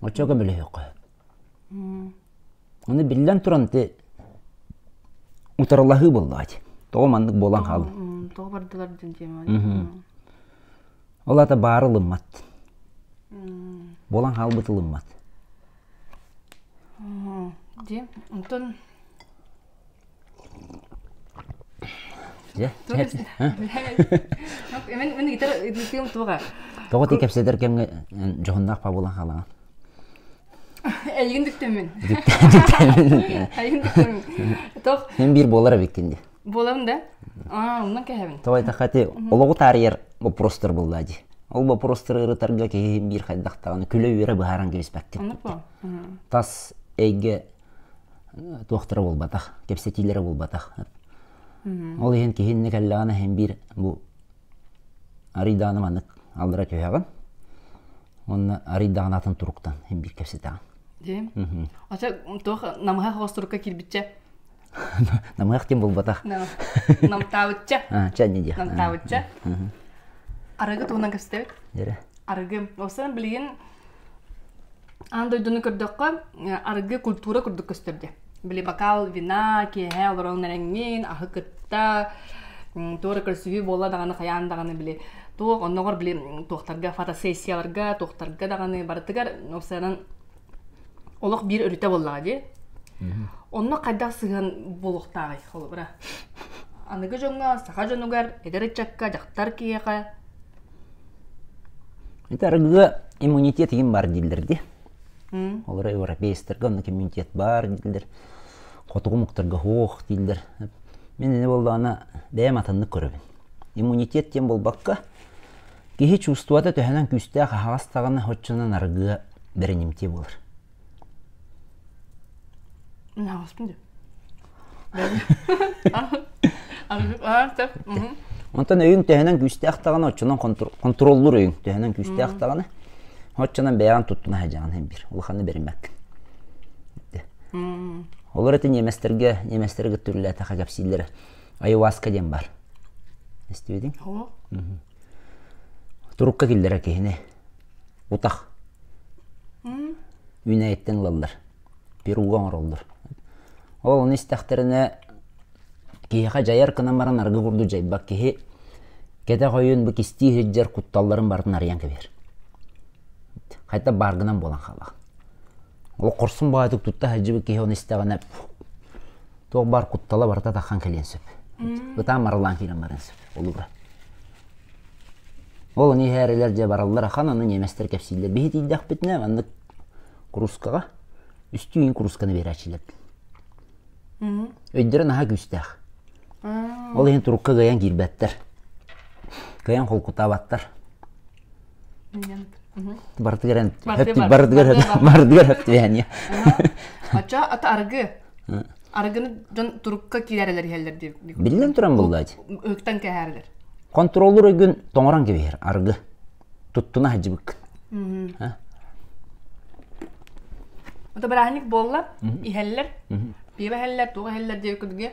Оччо көмөлөһүөххэ. Аны биллэн туран ити утарылаһыы буоллаҕа Тоҕо маннык буолан хаалын? Тоҕо бардылар диэн тема. Ол аата баары ылыммат. Буолан хаалбыт ылыммат. Дии. Онтон Тоҕо ти кэпсэтэр кэмҥэ дьоһуннаах пабулан хаалаҕын? Эйигин диктэммин. Мен биир болар эбиккин ди. Болам да? Аа, уннан кэһэбин. Тоҕай таха ти олоҕу таарыйар боппуруостар буллаа ди. Ол боппуруостары ырытарга киһи биир хайдахтаҕына күлө үөрэ быһааран кэбиспэккин. Тас эйгэ туохтара буолбатах, кэпсэтиилэрэ буолбатах. Ол иһин киһиннэ кэллэҕинэ иһин биир бу арыйдааны маннык аллара түһэҕин уонна арыйдаҕын атын туруктан биир кэпсэтэҕин. Ача туох намыһах остурукка кирбитчэ? Намыһах тем булбатах. Намтаабытча. Ча не диэх. Намтаабытча. Арыгы туһунан кэпсэтэбит. Арыгы. Осыдан билигин Аан дойдуну көрдөххө, арыгы культура курдук көстөрдө. Били бокал вина, киэһэ олорон эрэҥҥин, аһы кытта, туора көрсүһүү буолла даҕаны, хайаан даҕаны били туох оннугар били туохтарга фотосессияларга, туохтарга даҕаны барытыгар уопсайынан олох биир өрүтэ буоллаҕа дии. Онно хайдах сыһыан буолуохтааҕый холобура? Аныгы дьоҥҥо, саха дьонугар, эдэр ыччакка, дьахтар киһиэхэ Ити арыгыга иммунитет иһин баар дииллэр дии. Олор европейецтэргэ онно иммунитет баар дииллэр. Хотугу омуктарга суох дииллэр. Мин ини буоллаҕына бэйэм атыннык көрөбүн. Иммунитет диэн буолбакка, киһи чувствота төһөнөн күүстээх аһаҕас даҕаны, оччонон арыгыга бэринимтиэ буолар. Онтон өйүн төһөнөн күүстээх даҕаны, оччонон контроллуур өйүн төһөнөн күүстээх даҕаны, оччонон бэйэҕин туттуна садьаҕын һин бир. Улаханы бериммаккин. Олор эти неместтерге, неместер гыттүрүлээтэхэ кэпсииллэрэ. Айуаска диэн бар. Эстибедиң? Турукка киллерэ киһини утах үүнээйиттэн ылаллар пирога оҥороллор ол ону истэхтэринэ киһиэхэ дьайар гынан баран арыгы курдук дьайбат киһи кэтэх ойуун бу кистии сылдьар кутталларын барытын арыйан кэбиһэр хайта баар гынан буолан хаалаҕын ол хорсун баайытык тутта сылдьыбыт киһи ону истэҕинэ туох баар куттала барыта таххан кэлиэн сөп ытаан марылаан киирэн барыан сөп Холобура. Ол аны иһээрилэр дьэ бараллар ахан, аны немецтэр кэпсииллэр. Биһи тиийдэхпитинэ, маннык курускаҕа үстүү курусканы биэрааччылар. Өйдөрө наһаа күүстээх. Ол иһин турукка кыайан киирбэттэр. Кыайан холкутаабаттар. барытыгар эн барытыгар барытыгар хөптүһэниэ оччо ата аргы аргыны дьон турукка киирэрэлэр иһэллэр диир биллэн туран буллаать һыктан кэһэрэлэр контроллуур ойгүн тоҥорон кэбиһэр аргы туттуна хадьыбыккыт ото бырааһынньык буолла иһэллэр пиеба иһэллэр туох иһэллэр диэбиккитге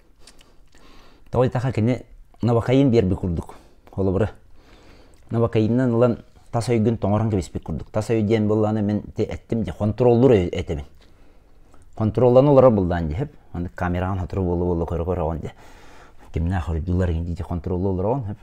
Тоҕо диэтэххэ кини набакайын биэрбит курдук. Холобура, набакайынан ылан тас өйгүн тоҥорон кэбиспит курдук. Тас өй диэн буоллаҕына мин эттим дии, хонтуруоллуур этибин. Хонтуруолланан олорор буллаан дии, хэп. Аны камераҕын сотору буола-буола көрө-көрөҕүн дии. Кимнээх оройдуулар дии хонтуруоллуу олороҕун, хэп.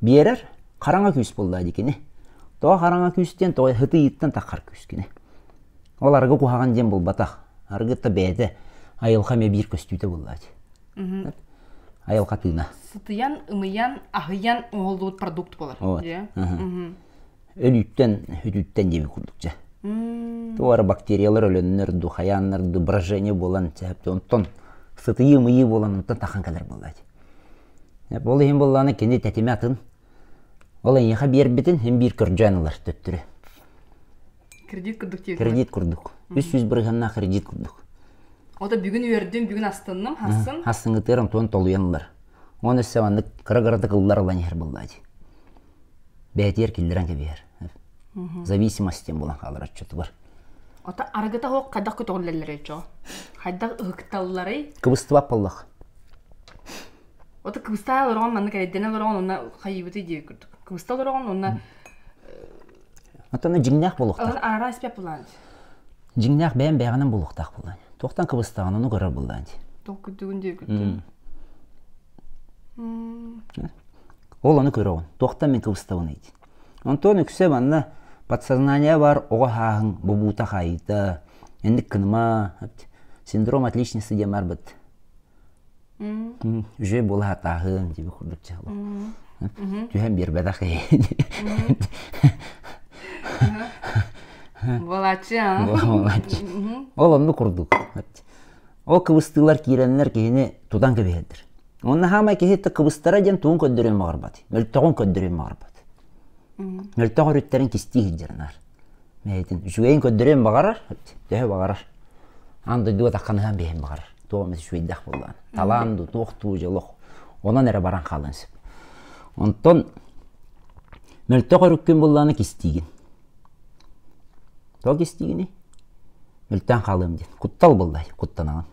Биэрэр хараҥа күүс буоллаа дикини. Тоҕо хараҥа күүс диэн тоҕо һытыйыыттан таххар күүс кини. Ол арыгы куһаҕан диэн булбатах. Арыгыта бэйэтэ айылҕа эмиэ биир көстүүтэ буоллаа дии. Айылҕа тыына. Сытыйан, ымыйан, аһыйан оһоллубут продукт буолар. өлүүттэн, үтүттэн диэбит курдук дьэ. Туора бактериялар өлөннөр ду, хайааннар ду брожение буолан чэһэпти онтон сытыйыы мыйыы буолан онтон тахан кэлэр буоллаачы. Ол иһин буллааны кини тэтиме атын. Ол эйиэхэ биэрбитин ин биир көржөөн ылар төттүрү. Кредит курдук тиэрдик. Кредит курдук. Үс сүүс бырыһынна кредит курдук. Ота бүгүн үөрдүм, бүгүн астынным, хасын. Хасын ытырым туон толуйан ылар. Он өссө маннык кыра кыратык ыллар ылан иһэр буллаачы. бээтигэр киллэрэн кэбиһэр зависимостин булан хаалар отчетугар ото арыгыта оһох хайдах көтөҕүллэллэрэй чоо хайдах ыһыкталларай кыбыстыбат боллох ото кыбыста олорон маннык эрэйдэнэ олорон онна хайыбыты дии курдук кыбыста олорон онна отону дьиҥнээх болуохтаах арара испеп булаан дьиҥнээх бэйэм бэйэҕинэн булуохтаах булаан туохтан кыбыстаҕын ону көрөр булаан тоқ күдүгүн дии күттүн Ол ону көрөҕүн, туохтан мин кыбыстабыный дии. Онтон үксэ манна подсознание баар оҕо һааһын бобуута хаайыыта, инник кыныма, синдром отличницы диэн барбыт. Уже була атааһын диэби курдук дьаалы. Түһэн биэрбэтэх иһи. Буолааччы аа. Буолааччы. Ол онну курдук. Ол кыбыстыылар киирэннэр киһини тутан кэбиһэрдэр. Онно хаамай киһи кыбыстара диэн тугун көрдөрүөн баҕарбат. Мөлтөҕүн көрдөрүөн баҕарбат. Мөлтөх өрүттэрин кистии сылдьар наар. Бэйэтин үчүгэйин көрдөрүөн баҕарар, төһө баҕарар. Аан дойду атахханыһан биэһин баҕарар. Туох эмэ үчүгэйдэх буоллаҕын. Талаан дуу, туох дуу дьолох онон эрэ баран хаалыан сөп. Онтон мөлтөх өрүккүн буллааны кистиигин. Ол истигини мүлтэн хаалыам диэн куттал буллай куттанаҕын.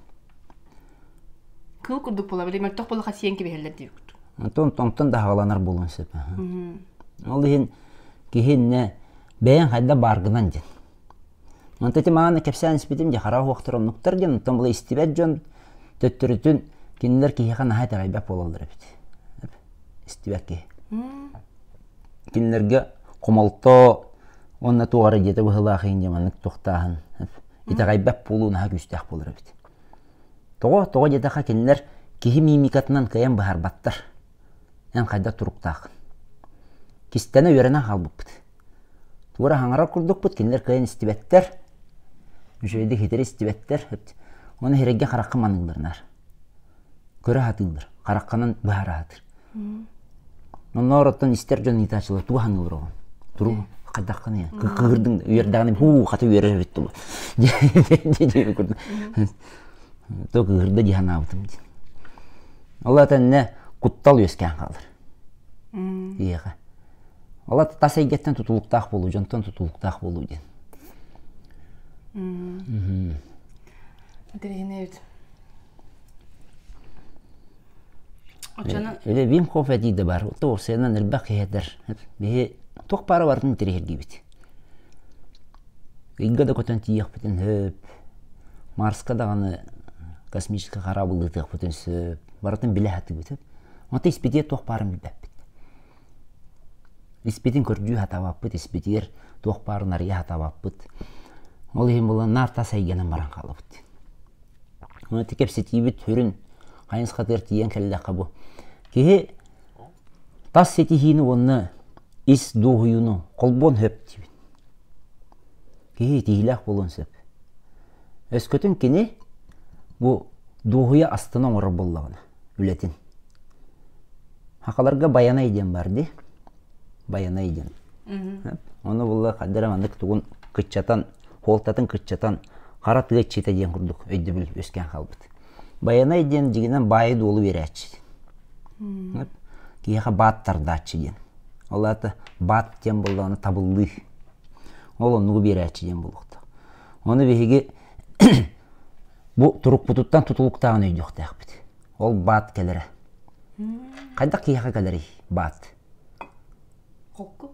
Кыыл курдук була били мөлтөх булаха сиэн кибиһэллэр диэбит. Онтон онтон даһаҕаланар буолуон сөп. Ол иһин киһиннэ бэйэн хайда бааргынан диэн. Онто ити мааны кэпсээн испитим дьэ хара уохтар оннуктар диэн оттон була истибэт дьон төттөрүтүн кинилэр киһиэхэ наһаа итэҕэйбэт буолаллар эбит. Истибэт киһи. кинилэргэ хомолтоо уонна туох эрэ дьиэтэ быһыылаах иһин дьэ маннык тохтааһын итэҕэйбэт буолуу наһаа күүстээх буолар эбит тоҕо тоҕо диэтэххэ кинилэр киһи миимикатынан кыайан быһаарбаттар эн хайдах туруктааххын кистэнэ үөрэнэ хаалбыппыт тугу эрэ хаҥарар курдукпут кинилэр кыайан истибэттэр үчүгэйдик хитирэ истибэттэр уонна сирэйгэ харахха маннык быранар көрө сатыыллар хараххынан быһара сатыыр нонноороттон истэр дьон ыйытааччылар тугу саныыллар оҕо турук хайдаххыный кыырдыҥ үөрдэҕинэ һуу хата үөрэ эбит дуо диэбит курдук то кыырда дии санаабытым диэн ол атынна куттал үөскээн хаалар ийэҕэ ол тас эйгэттэн тутулуктаах буолуу дьонтон тутулуктаах буолуу диэн Дринэвит Үлэ Вимхов этии да баар. Туохсанан элбэх киһиэтэр. Биһи туох паарабарын тириһиргибит. Ыйга да көтөн тиийэхпитин сөп. Марска даҕаны космическая корабль ыытыахпытын сөп. Барытын билэ хатыгыт. Онто испитиэ туох паарын билбэппит. Испитин көрдүү хатабаппыт, испитигэр туох парын арыйа хатабаппыт. Ол иһин була наар тас эйгэнен баран хаалабыт. Ити кэпсэтиибит сүрүн хайа сатыгар тиийэн кэллэххэ бу. Киһи тас ситиһиини уонна ис дуоһуйууну холбоон сөп диибин. Киһи итиһиилээх буолуон сөп. Өскөтүн кини бу дуоһуйа астына оҥорор буоллаҕына үлэтин. Хакаларга Байанай диэн баар дии. Байанай диэн. Ону булла хаддара маннык тугун кыччатан, хуолтатын кыччатан, хара тыа чита диэн курдук өйдөбүл үөскээн хаалбыт. Байанай диэн дьигинэн баайы-дуолу биэрээччи. Киһиэхэ баат тардааччы диэн. Ол аата баат диэн буоллаҕына табыллыы. Ол оннугу биэрээччи диэн буолуохтаах. Ону биһиги бу турукпутуттан тутулуктааҕын өйдүөхтээхпит. Ол баат кэлэрэ. Хайдах киһиэхэ кэлэрий баат? Холку.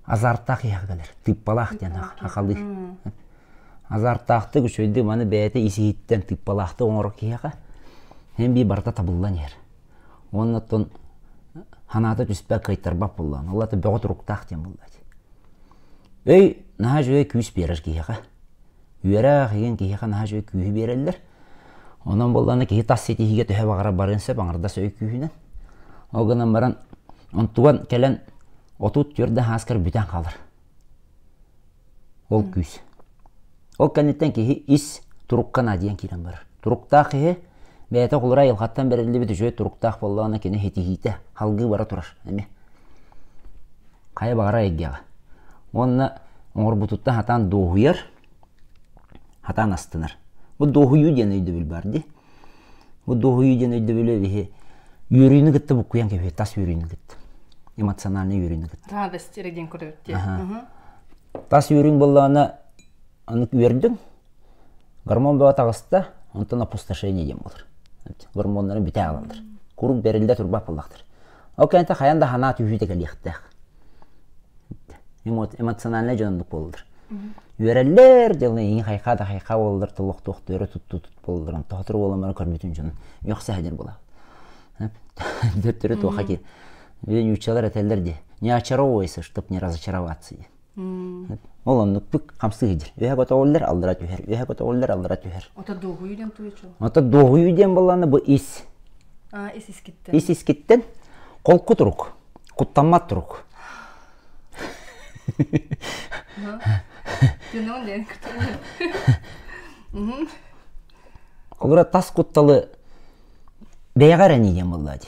Азартаах киһиэхэ кэлэр. Тыыппалаах диэн ахалыы. Азартаахтык үчүгэйдик маны бэйэтэ исиһиттэн тыыппалаахтык оҥорор киһиэхэ эн бии барыта табыллан иһэр. Уонна оттон санаата түспэт кыайтарбат буоллаҕын. Ол да бөҕө туруктаах диэн буоллаҕа дии. Өй наһаа үчүгэй күүс биэрэр киһиэхэ. Үөрэх иген киһиэхэ наһаа үчүгэй күүһү биэрэллэр. Онон буоллана киһи тас ситиһиигэ төһө баҕара барыан сөп, аҥардас өй күүһүнэн. Ол гынан баран онтуган кэлэн отут түөрт да һааскар бүтэн хаалар. Ол күүс. Ол кэнниттэн киһи ис турукка наадыйан киирэн барар. Туруктаах киһи бэйэтэ холура айылҕаттан бэриллибит үчүгэй туруктаах буоллаҕына кини ситиһиитэ, халгыы бара турар эмиэ. хайа баҕарар эйгэҕэ. Уонна оҥорбутуттан хатаан дуоһуйар, хатаан астынар. Бу дуоһуйуу диэн өйдөбүл баар дии. Бу дуоһуйуу диэн өйдөбүлү биһи үөрүүнү кытта буккуйан кэбиһиэ, тас үөрүүнү кытта. Эмоциональнай үөрүүнү кытта. Радость деген көрдүр. Тас үөрүүҥ буоллаҕына аны үөрдүҥ, Гормон бөҕө таҕыста, онтон опустошение диэн буолар. Гормоннары бүтэ ылаллар. Куруук бэриллэ турбат буоллахтар. Ол кэнниттэн хайан да санаа түһүүтэ кэлиэхтээх. Эмоциональнай дьоннук буоллар. Үөрэллэр, дьылы иҥи хайха да хайха буоллар, толохтуохтары тутту тут буоллар, тохотор буоламмар көрбүтүн дьон үөхсэһэлэр була. Төттөрү туоха киир. Виден учалар этеллер де не очаровывайся, чтоб не разочароваться. Ол оннукпут хамсыы дьин. Үһэ көтөҕүллэр, аллара түһэр. Үһэ көтөҕүллэр, аллара түһэр. Ото дуоһуйу диэн туйу чу? Ото дуоһуйу диэн боллаана бу ис. А, ис искиттен. Ис искиттен холку турук, куттаммат турук. Түнөн ден кутуйу. Олура тас кутталы бэйэҕэ эрэн ийем болла ди.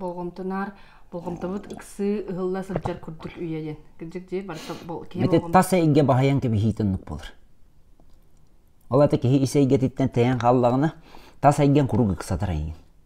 болҕомтоноор болҕомтобут ыксыы ыһылла сылдьар курдук үйэ диэн кырдьык дии барыта киһи тас эйгэ баһыйан кэбиһиитин ыннык буолар ол аата киһи ис эйгэтиттэн тэйэн хааллаҕына тас эйгэҥ куруук ыксатар эйигин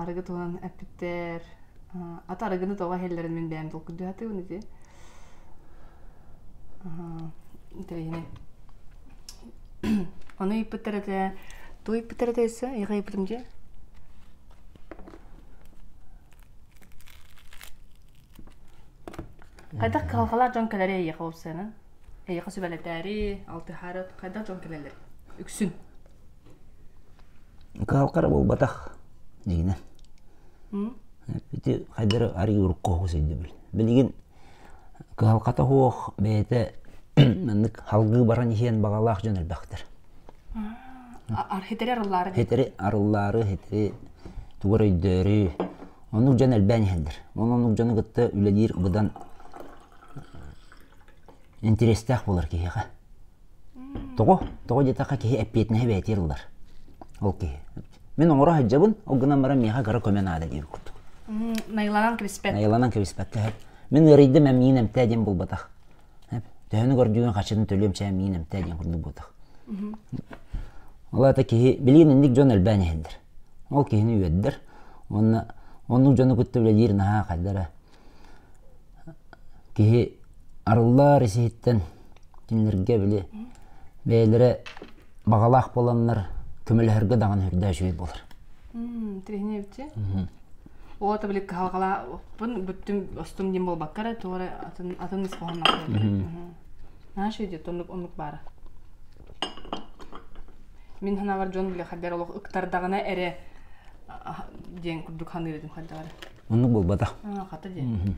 арыгы туһунан эппиттэр ата арыгыны тоҕо иһэллэрин мин бэйэм толкуйдуу сатыыбын ити интэриэһинэй ону ыйыппыттар этэ тугу ыйыппыттар этэ өссө эйиэхэ ыйыппытым дии хайдах кыһалҕалаах дьон кэлэрэй эйиэхэ уопсайынан Эйиэхэ сүбэлэтээри, алтыһаары хайдах дьон кэлэллэр? Үксүн. Кыһалхара буолбатах, дьиҥинэн. Ити хайдары арыый урукку оһугас өйдөбүл. Билигин кыһалхата суох, бэйэтэ маннык салгыы баран иһиэн баҕалаах дьон элбэхтэр. Архитэри арыллаары. Хитэри арыллаары, хитэри тугар өйдөөрү, оннук дьон элбээн иһэллэр. Онон оннук дьону кытта үлэлиир быдан Интэриэстээх буолар киһиэхэ. Тоҕо? Тоҕо диэтэххэ киһи эппиэтинэһи бэйэтигэр ылар. Ол киһи. Мин оҥоро сылдьабын, ол гынан баран миэхэ кыра көмө наада диир курдук. Найыланан кэбиспэт. Найыланан кэбиспэккэ иһэр. Мин ыарыйдым, эмиийин эмтээ диэн буолбатах. Төһөнү көрдүүгүн хаччыны төлүөм чэ эмиийин эмтээ диэн курдук буолбатах. Ол аата киһи билигин инник дьон элбээн иһэллэр. Ол киһини үөрдэр уонна оннук дьону кытта үлэлиир наһаа хайдара Киһи арыллар ис-иһиттэн кинилэргэ били бэйэлэрэ баҕалаах буоланнар көмөлөһөргө даҕаны үрдээч үһү буолар. Тириһинэбитчи. Оо ата били кыһалҕалаахпын бүттүм остум диэн буолбакка эрэ тоҕо атын атын ис хоһоонноох буоллум. Наша идет оннук оннук баара. Мин санаабар дьон били хайдар олох ыктардаҕына эрэ диэн курдук саныыр этим хайдаҕа эрэ. Оннук буолбата. Хата дии.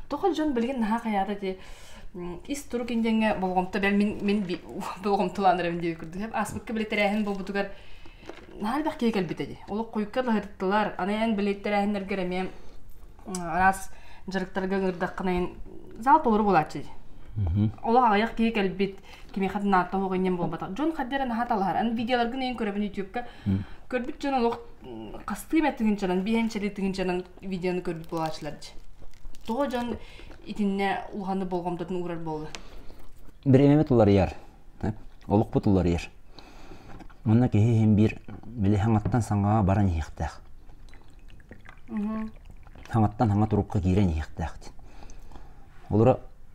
Тоқал дьон билигин наһаа хаyaата дии ис турук индиэҥҥэ болҕомто бэл мин мин болҕомтолаанарым диир курдук ааспыкка билик тэрээһин буолбутугар наһаа элбэх киһи кэлбитэ дии олох куйка лаһыттылар аны эн билик тэрээһиннэргэр эмиэ араас дьарыктарга ыҥырдаххына зал толору буолааччы олох аҕыйах киһи кэлбит кимиэхэ да наатта оһох иннин буолбатах дьон хаддера наһа талаһар ан видеоларгын эйин көрөбүн ютюбка көрбүт дьон олох хастыым эттигинчанан биһэнчери тигинчанан видеону көрбүт буолаачылар дьи тоҕо дьон итиннэ улаханы болҕомтотун уурар буолла биремемет уларыйар олукпут уларыйар манна киһи иһин биир били хаҥаттан саҥаҕа баран иһиэхтээх хаҥаттан хаҥа турукка киирэн иһиэхтээх олура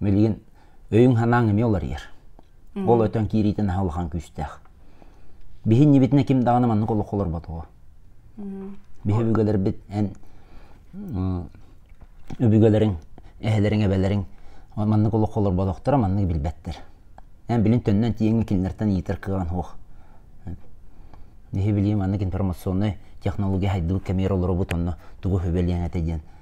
Билигин өйүҥ-санааҥ эмиэ уларыйар. Ол өтөн киириитин аһа улахан күүстээх. Биһин ньибитинэ ким даҕаны маннык олоххо олорботоҕо. Биһ өбүгэлэрбит эн өбүгэлэриҥ, эһэлэриҥ, эбэлэриҥ маннык олоххо олорботохторо маннык билбэттэр. Эн билин төннөн тииҥҥэ кинилэртэн ыйытар кыаҕын суох. Биһи билиим маннык информационнай технология хайдыбыт кэмигэр олоробут онно тугу хөбөлүөҥ этэ диэн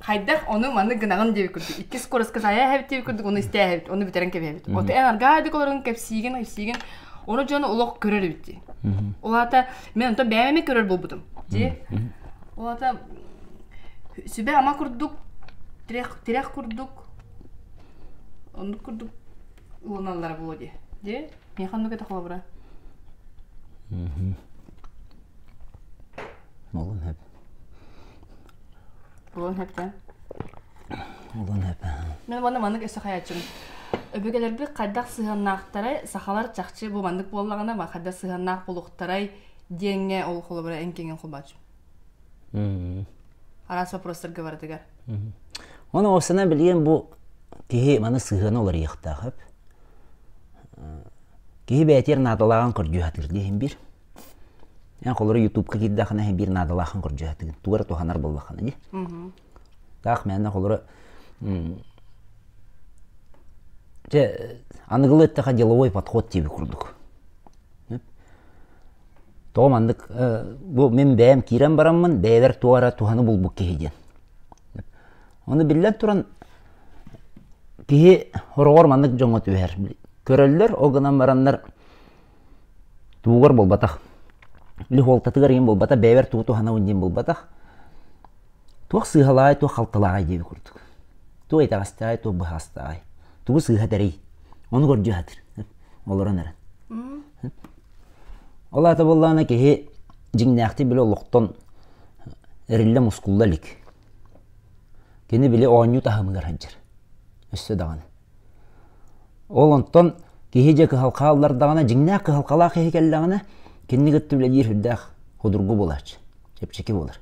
хайдах ону-маны гынаҕын диэбит курдук иккис кураска сайа эһэбит диэбит курдук оны истэ эһэбит оны бүтэрэн кэбиһэбит оту эн арgaa дик олорун кэпсиигин айсиигин ону дьону олох көрөр эбит дии улаата мен онтон бэйэме көрөр буолбутум дии улаата сүбэ ама курдук тирэх тирэх курдук оннук курдук ылыналлара буолуо дии дии мен ханнык это холобура молун хэп Улан Эпэ. Улан Эпэ. Мен уонна маннык өссө хайаччым. Өбүгэлэрбит хайдах сыһыаннаахтарай, сахалар чахчы бу маннык буоллаҕына, ма хайдах сыһыаннаах булуктарай диэҥҥэ ол холобура эн киэҥин холбаачым. Араас вопростарга барытыгар. Оны осына билген бу киһи маны сыһыана уларыйыктаах өп. Киһи бээтиэр наадалааҕын көрдүү хатыр диһин бир. Эн холоро ютубка киирдэххинэ биир наадалааххын көрдьөһөтүгүн тугу эрэ туһанар буоллаххына ди. Таах мээнэ холоро Дьэ аныгылы эттэхэ деловой подход диэби курдук. Тоҕо маннык бу мин бэйэм киирэн бараммын бэйэбэр туох эрэ туһаны булбут киһи диэн. Ону биллэн туран киһи хороҕор маннык дьоҥҥо түһэр. Көрөллөр, ол гынан бараннар Туугар буолбатах. Үлүх уолтатыгар иһин буолбата, бэйэбэр тугу туһанабын диэн буолбатах. Туох сыыһалаай, туох халтылааҕай диэби курдук. Туох итэҕэстэҕэй, туох быһаастааҕай. Тугу сыыһа тэрий. Ону көрдүү сатыыр. Олорон эрэн. Ол аата буоллаҕына киһи дьиҥнээхтик били олохтон эриллэ мускулла илик. Кини били оонньуу таһымыгар сылдьар. Өссө даҕаны. Ол онтон киһи дьэ кыһал хааллардаҕына, дьиҥнээх кыһалҕалаах киһи кэллэҕинэ, кинини кытта үлэлиир сүрдээх судургу буолааччы, чэпчэки буолар.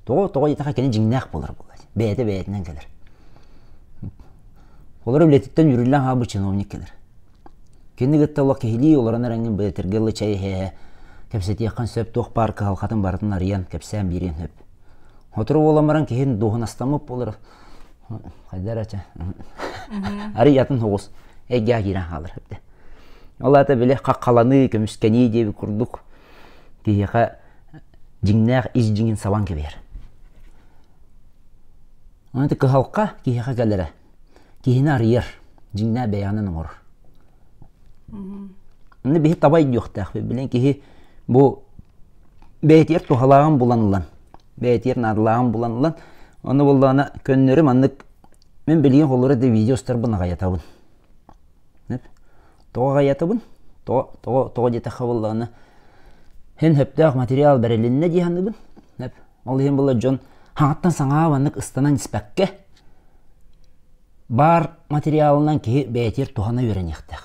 Тоҕо тоҕо диэтэххэ кини дьиҥнээх буолар буолааччы, бэйэтэ бэйэтинэн кэлэр. Олор үлэтиттэн үөрүүлээн хаалбыт чиновник кэлэр. Кини кытта олох киһилии олорон эрэн бэлэтэргэ ылы чай иһээһэ, кэпсэтиэххин сөп, туох баар кыһалҕатын барытын арыйан, кэпсээн биэриэн сөп. Сотору буолан баран киһин дуоһунастаммыт буолар, хайда эрэ чэ арый атын соҕус эйгэҕэ киирэн хаалар эбитэ ол аата били хаххаланыы көмүскэнии диэби курдук киһиэхэ дьиҥнээх ис дьиҥин сабан кэбиһэр аны кыһалҕа киһиэхэ кэлэрэ киһини арыйар дьиҥнээх бэйэҕинэн оҥорор аны биһи табай диохтаах билэн киһи бу бэйэтигэр туһалааҕын булан ылан бэйэтигэр наадалааҕын булан ылан ону буоллаҕына көннөрү маннык мин билигин холура да видео устарбын аҕайатабын тоҕо аҕайатабын тоҕо тоҕо тоҕо диэтэххэ буоллаҕына һин сөптөөх материал бэрилиннэ дии саныыбын ол иһин буолла дьон хаҥаттан саҥаҕа маннык ыстанан испэккэ баар материалынан киһи бэйэтигэр туһана үөрэниэхтээх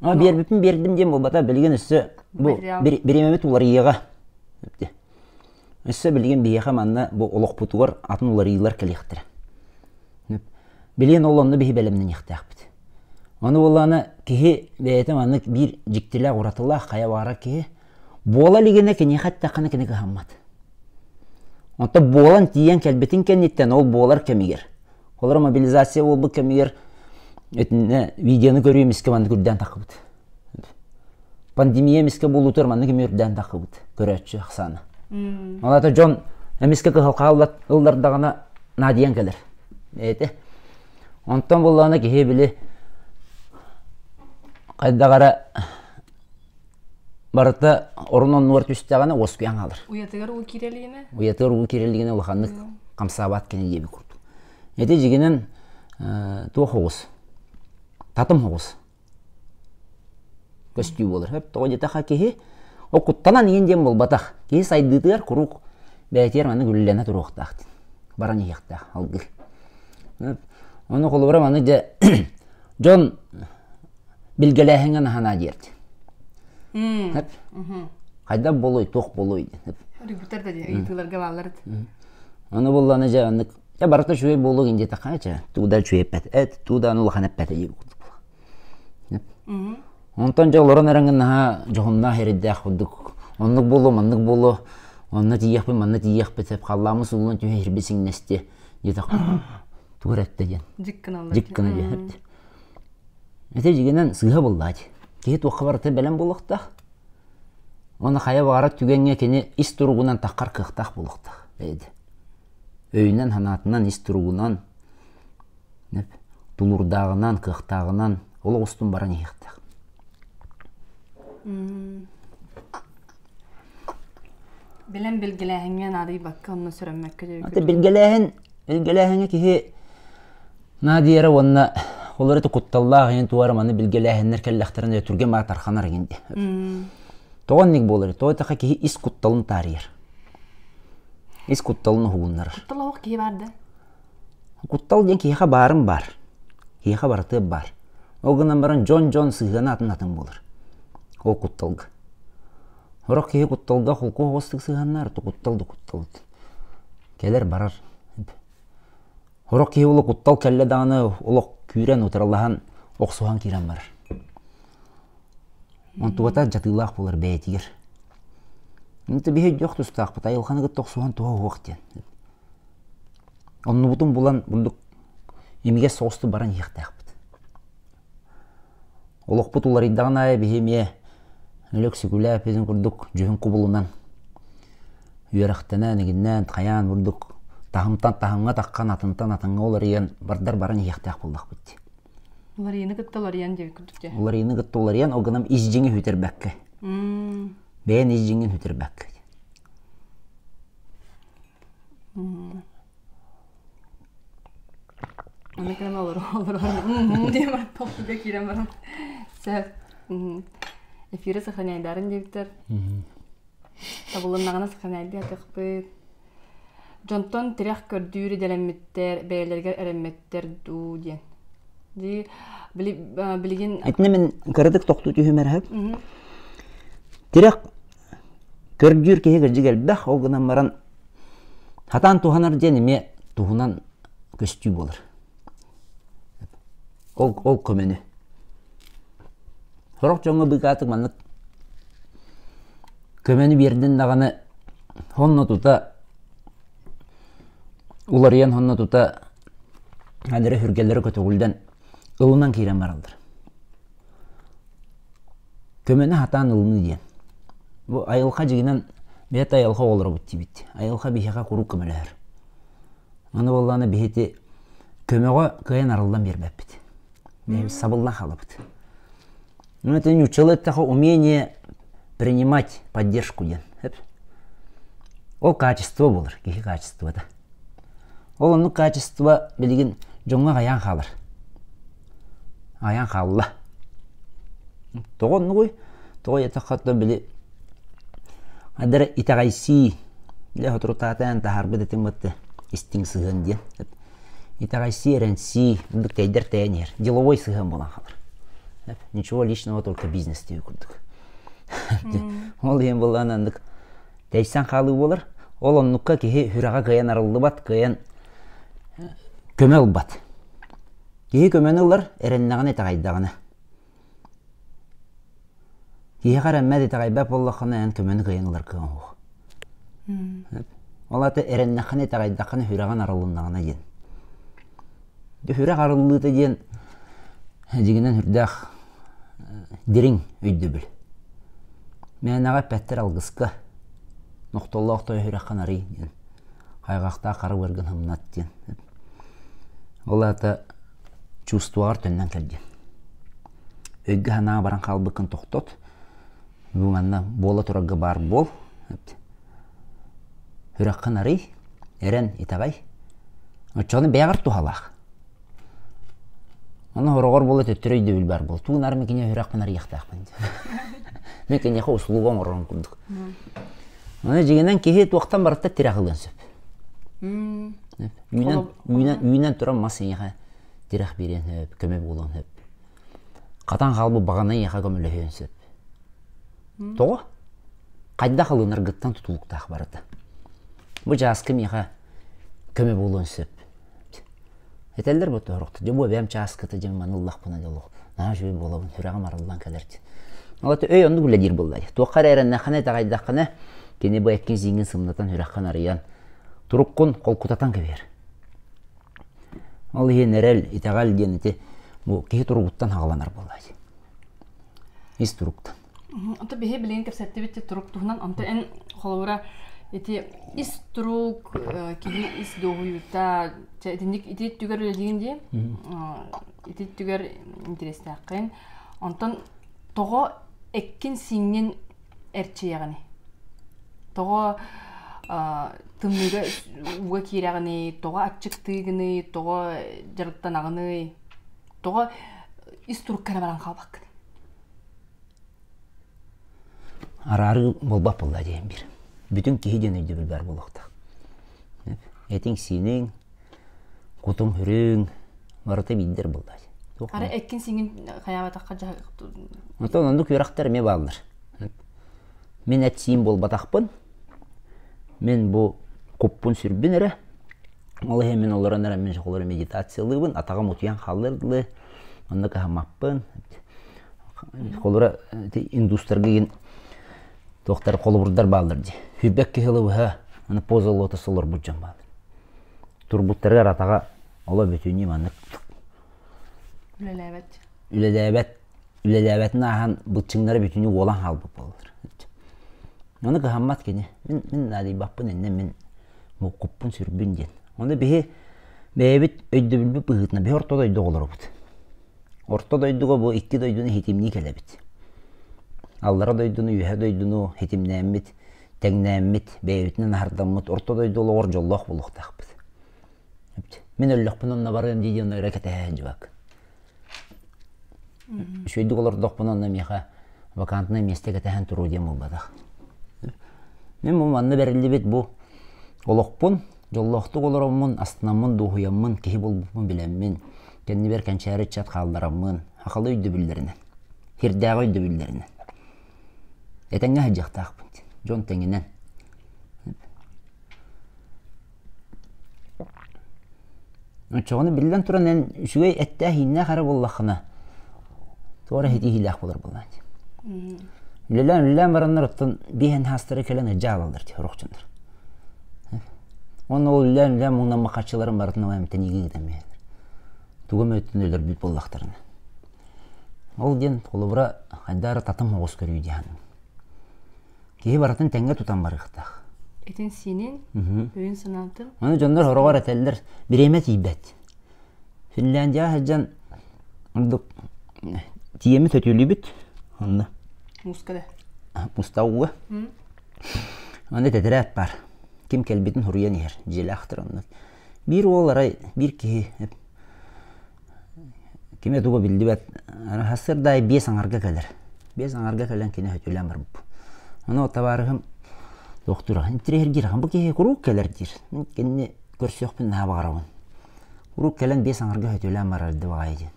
биэрбиппин биэрдим диэн буолбата билигин өссө бу бириэмэбит уларыйыаҕа өссө билигин биһиэхэ манна бу олохпутугар атын уларыйыылар кэлиэхтэрэ билиэн ол онно биһи бэлэмнэниэхтээхпит ону буоллаана киһи бэйэтэ маннык биир дьиктилээх уратылаах хайа баара киһи буола илигинэ киниэхэ эттэххинэ кини кыһаммат оттон буолан тиийэн кэлбитин кэнниттэн ол буолар кэмигэр Олор мобилизация буолбут кэмигэр итиннэ видеоны көрүү эмискэ маннык үрдээн таххыбыт. Пандемия эмискэ буолуутугар маннык эмиэ үрдээн таххыбыт көрөөччү ахсаана. Алата дьон эмискэ кыһалҕа ыллардаҕына наадыйан кэлэр. Эти. Онтон буллаҕына киһи били хайдаҕара Барыта орун оннугар түстэҕинэ уоскуйан хаалар. Уйатыгар уу кирэлиинэ? Уйатыгар уу кирэлиигинэ улаханнык хамсаабат кини диэби курдук. Ити дьигинэн туох оҕус? Татым оҕус. Көстүү буолар. Хөп тоҕо диэтэххэ киһи окуттанан иин диэн буолбатах. Киһи сайдыытыгар куруук бээтигэр маннык үллэнэ туруохтаах дин. Баран иһиэхтээх алгыр. Ону холобура маны дьэ дьон билгэлээһиҥҥэ наһанаа диэрди деп хайдах буолуой туох буолуой диэн үргүттэр да ыйытыыларга бааллар аны булланы же оннук я барыта үчүгэй буолуо дии такая че туда үчүгэйпэт эт туда аны улахан эппэт ии онтон же олорон эрэн наһаа дьоһуннаах эрдээх курдук оннук буолуо маннык буолуо онно тиийэхпин манна тиийиэхпит деп халлааммыс улуун түһэ ирби сиҥнэсти диэтэх тугу этте диэн дьиккына диэн Ити дьигинэн сыыһа буллаать. Киһи туохха барыта бэлэм буолуохтаах. Уонна хайа баҕарар түгэҥҥэ кини ис туругунан таххар кыахтаах буолуохтаах эбит. Өйүнэн-санаатынан, ис туругунан, тулуурдааҕынан, кыахтааҕынан олох устун баран иһиэхтээх. Билэн билгилээһиҥҥэ наадыйбакка онно сүрэммэккэ дөрү. Ate билгилээһин билгилээһиҥҥэ киһи наадыйара уонна ол эрэ кутталлаах ин туора маны билгилээһиннэр кэллэхтэрин өйө түргэн баа тарханар эгин де. Тоҕо инник буолар? Тоҕо таха киһи ис кутталын таарыйар. Ис кутталын уһугуннарар. Куттал оһох киһи бар да. Куттал диэн киһиэхэ баарын баар. Киһиэхэ барытыгар баар. Ол гынан баран дьон-дьон сыһыана атын-атын буолар. Ол кутталга. Сорох киһи кутталга холку оҕустук сыһыаннаар, куттал да куттал. Кэлэр-барар. Сорох киһи ол куттал кэллэ даҕаны олох күүрэн, утарылаһан, охсуһан киирэн барар. Онтубата дьатыылаах буолар бэйэтигэр. Инте биһи дьох тустаахпыт, айылханы кытта охсуһан туһа уох диэн. Оннубутун булан бурдук имигэс соҕустук баран иһиэхтээхпит. Олохпут уларыйдаҕын аайы биһи эмиэ лөксүкүлээппитин курдук дьүһүн кубулунан үөрэхтэнэн, игиннээн, хайаан бурдук таһымтан таһымҥа таххан, атынтан атыҥҥа уларыйан бардар баран иһиэхтээх буоллахпыт дии. Уларыйыыны кытта уларыйан диэбит курдук дии. Уларыйыыны кытта уларыйан, ол гынан ис дьиҥи үтэрбэккэ. Бэйэн ис дьиҥин үтэрбэккэ. Ону кэлэн олорор диэн толкуйга киирэн баран сөп эфиры сохраняйдарын диэбиттэр табылыннаҕына сохраняйдыы атахпыт дьонтон тирэх көрдүүр идэлэммиттэр бэйэлэригэр эрэммэттэр дуу диэн дии билигин итини мин кыратык тохтуу түһүмэр тирэх көрдүүр киһи кырдьык элбэх, ол гынан баран хатаан туһанар диэн эмиэ туһунан көстүү буолар. Ол, ол көмөнү. Сорох дьоҥҥо быыкаатык маннык көмөнү биэрдин даҕаны honno тута уларыйан honno тута адыра сүргэлэрэ көтөҕүллэн ылынан киирэн бараллар. көмөнү хатаан ылыныы диэн. Бу айылҕа дьигинэн бэйэтэ айылҕа оҕолоробут диибит. Айылҕа биһиэхэ куруук көмөлөһөр. Аны буоллаҕына биһити көмөҕө кыайан арыллан биэрбэппит. Бэйэбит сабыллан хаалабыт. Ити ньуччалыы эттэхэ умение принимать поддержку диэн. Ол качество буолар, киһи качествота. Ол оннук хаачыстыба билигин дьоҥҥо аҕыйаан хаалар. Аҕыйаан хаалла. Тоҕо оннугуй? Тоҕо диэтэххэ, оттон били хайда эрэ итэҕэйсии, дьэ соторутаатаан таһаарбыт этим бытты истиҥ сыһыан диэн. Итэҕэйсии, эрэнсии ордук тэйдэр тэйэн иһэр. Деловой сыһыан буолан хаалар. Ничего личного, только бизнес диир курдук. Ол иһин буоллаҕына оннук Тэйсэн хаалыы буолар. Ол оннукка киһи сүрэҕэ кыайан арыллыбат, кыайан көмө ылбат. Киһи көмөнү ылар эрэннэҕинэ итэҕэйдэҕинэ. Киһиэхэ эрэммэт итэҕэйбэт буоллаххына эн көмөнү кыайан ылар кыаҕыҥ суох. Ол аата эрэннэххинэ итэҕэйдэххинэ сүрэҕин арылыннаҕына диэн. Үһүрэх арыллыыта диэн дьигинэн үрдээх дириҥ өйдөбүл. Мээнэҕэ эппэттэр алгыска нохтоллоох той үһүрэххин арый диэн хайҕахтаах хара быаргын хымнат диэн ол аата чувствоҕар төннөн кэл диэн өйгө-санааҕа баран хаалбыккын тохтот бу манна буола турарга баар буол Үрэххин арый, эрэн итэҕэй. Оччоҕуна бэйэҕэр туһалаах. Ону хороҕор буола төттөрү өйдөбүл баар буол. Тугун ары мин кинигэ үрэхпин арыйыахтаахпын диэн. Мен киниэхэ услуга оҥорорун курдук. Аны дьиҥинэн киһи туохтан барыта тирэх ылыан сөп. Үүнэн үүнэн үүнэн туран мас ийэҕэ тирэх биэриэн сөп, көмө буолуон сөп. Хатан хаалбыт баҕаны ийэҕэ көмөлөһүөн сөп. Тоҕо? Хайдах ылынаргыттан тутулуктаах барыта. Бу чааска миэхэ көмө буолуон сөп. Этэллэр бу тоһорохто. Дьэ, бу бэйэм чааската дьэ маны ыллахпына дьолуох. Наа үчүгэй буолабын, сүрэҕим арыллан кэлэр дии. Алата өй оннук үлэлиир буоллай. Туохха эрэ эрэннэххинэ, итэҕэйдэххинэ, кини бу эккин зииҥҥин сымнатан, үрэххин арыйан, туруккун холкутатан кэбиһэр. Ол иһин эрэл, итэҕэл диэн ити бу киһи туругуттан хаҕыланар буоллай. ис турукта онто биһи билигин кэпсэттибит турук туһунан онто эн холобура ити ис турук киһи ис дуоһуйуута итинник ити өттүгэр үлэлиин дии ити өттүгэр интерестээххин онтон тоҕо эккин сиҥҥин эрчийэҕиний тоҕо тымныыга ууга киирэҕиний тоҕо аччыктыыгыный тоҕо дьарыктанаҕыный тоҕо ис туруккана баран хаалбаккын араарыы буолбат буолла диэн бир бүтүн киһи диэн өйдөбүл баар буолуохтаах этиҥ-сииниҥ кутуҥ-үрүҥ барыта биирдэр буолла ара эккин сиҥин хайаабатахха оттон ондук үөрэхтэр эмиэ бааллар мин этсиим буолбатахпын Мин бу куппун сүрбүн эрэ, ол иһин мин олорон эрэ мин холобура медитациялыыбын, атаҕым утуйан хааллар дылы, онно кыһаммаппын. Холобура ити индустарга игин туохтар холобурдар бааллар дии. Сүүрбэк киһи ыла быһа аны поза лотос олорбут дьон бааллар. Турбуттарыгар атаҕа оло бүтүнүү маннык. Үлэлээбэт. Үлэлээбэт үлэлээбэтин ааһан быччыҥнара бүтүнүү уолан хаалбыт буоллар. Ону кыһаммат кини. Мин, мин наадыйбаппын иннэ мин муккуппун сүрбүн диэн. Ону биһи бэйэбит өйдөбүлбүт быһыытынан биһи орто дойду оҕолоробут. Орто дойдуга бу икки дойдуну хитимнии кэлэбит. Аллара дойдуну, үөһэ дойдуну хитимнээммит, тэҥнээммит, бэйэбитинэн аһардаммыт орто дойду олоҕор дьоллоох буолуохтаахпыт. Мин өллөхпүн онно барыам дии диэн өрө кэтэһэһин дьыбак. Үчүгэйдик олордохпуна онно миэхэ вакантнай миэстэ кэтэһэн туруо диэн буолбатах. Мин бу манна бэриллибит бу олохпун, дьоллоохтук олороммун, астынаммын, дуоһуйаммын, киһи булбуппун билэммин, кэннибэр кэнчээри ыччат хааллараммын, ахалы өйдөбүллэринэн, ирдээҕи өйдөбүллэринэн. Этэҥҥэ сылдьыахтаахпыт, дьон тэҥинэн. Оччоҕуна биллэн туран эн үчүгэй эттээх-иһииннээх эрэ буоллаххына туора ситиһиилээх буолар буоллаҕа дии. Үлэлээн үлэлээн бараннар оттон биэс эн саастара кэлэн ыалдьа хаалаллар дии орохчуннар. Уонна ол үлэлээн үлэлээн муҥнаммат харчыларын барытын ол эмтэниигэ ыытан биэрэллэр. Туга мөттүн өлөрбүт буоллахтарына. Ол диэн холобура хайдаа эрэ татым оҕус көрүү дии саныыбын. Киһи барытын тэҥҥэ тутан барыахтаах. Итин-сиинин өйүн-санаатын Аны дьоннор сороҕор этэллэр, бириэмэ тиийбэт. Финляндияҕа сылдьан ордук тиэмэ сөтүөлүүбүт. Онно мууска да. муста ууга. Аны тэтэрээт баар. Ким кэлбитин суруйан иһэр. Дьиэлээхтэр онно. биир уол арай биир киһи кими тугу биллибэт сырдаай биэс аҥарга кэлэр биэс аҥарга кэлэн кини сөтүөлээн барбыт онон табаарыһым доктура интириэһиргиир бу киһи куруук кэлэр диир мин кинини көрсүөхпүн наһаа баҕарабын куруук кэлэн биэс аҥарга сөтүөлээн барар да баҕайы диэн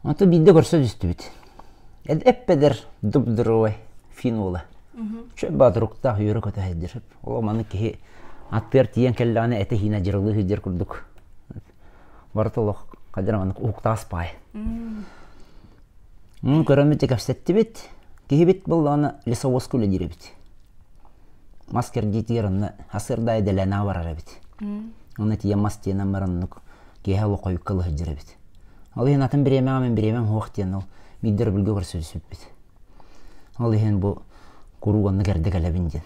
Ото биирдэ көрсө түстүбүт. Эппэдэр дубдуровай финола. Чө баатуруктаах үөрэ-көтө сылдьар. Ол маннык киһи аттыгар тиийэн кэллэҕинэ этэ-иинэ дьырылыы сылдьар курдук. Барыта олох хадьа маннык уһуктаҕас паайа. Мин көрөммүт кэпсэттибит. Киһибит быллаҕына лесовозка үлэлиир эбит. Мас кэрдиитигэр онно асырдаа идэлээнэҕэ барар эбит. Онно тиийэн мас тиэнэн баран оннук киэһэ олох хойукка ылы сылдьар эбит. Ол иһин атын бириэмэҕэ мин бириэмэм суох диэн ол биирдэ рубльга көрсүспүппүт. Ол иһин бу куруук оннук эрдэ кэлэбин диэн.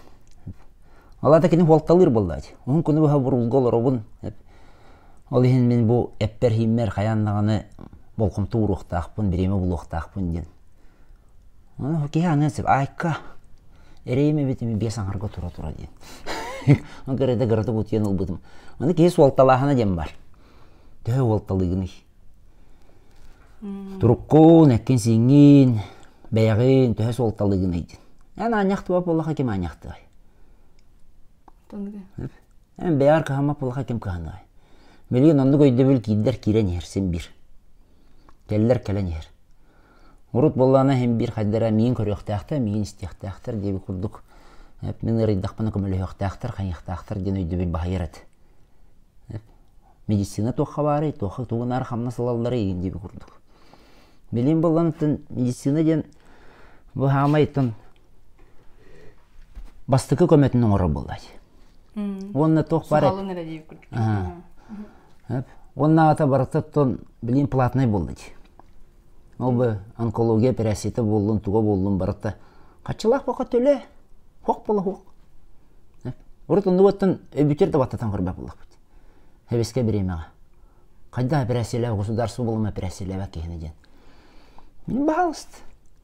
Ол аата кини суолталыыр буоллаҕа дии. Уһун күнү быһа бурулга олоробун. Ол иһин мин бу эппэр-иһиммэр хайаан даҕаны болҕомто ууруохтаахпын, бириэмэ булуохтаахпын диэн. Киһи аныан сөп. Айка, эрэйим эбит ими биэс аҥарга тура-тура диэн. Ол кэрэдэ кырата бутуйан ылбытым. Аны киһи суолталааһына диэн бар. төһө уол талыгыный туруккун эккин-сииҥҥин бэйэҕин төһө суолталыгыный диэн эн аанньахтыбат буоллаха ким аанньахтыай эн бэйэҕэр кыһаммат буоллаха ким кыһаныай билигин оннук өйдөбүл киирдэр киирэн иһэр син биир кэллэр кэлэн иһэр урут буоллаҕына иһин биир хайда эрэ миин көрүөхтээхтэр миин истиэхтээхтэр диэбит курдук мин ыарыйдахпына көмөлөһүөхтээхтэр хайыахтаахтар диэн өйдөбүл баһыйар эт медицина туохха баарый, туохха тугу наар хамнас ылалларый диэби курдук. Билим булланытын медицина диэн бу хаамайтын бастакы көмөтүн оҥорор буоллач. Уонна туох бар уонна ата барыта тон билим платнай буоллач. Ол бу онкология эпэрээссийэтэ буоллун, туга буоллун барыта хаччылаах баха төлө, хуох була хуох. Урут оннугуттан өбүтер да баттатан көрбөп буллахпыт. Хевискэ бириэмэҕэ. Хайдах эпэрээссийэлээх государство булума эпэрээссийэлээх киһини диэн. Баһалыст.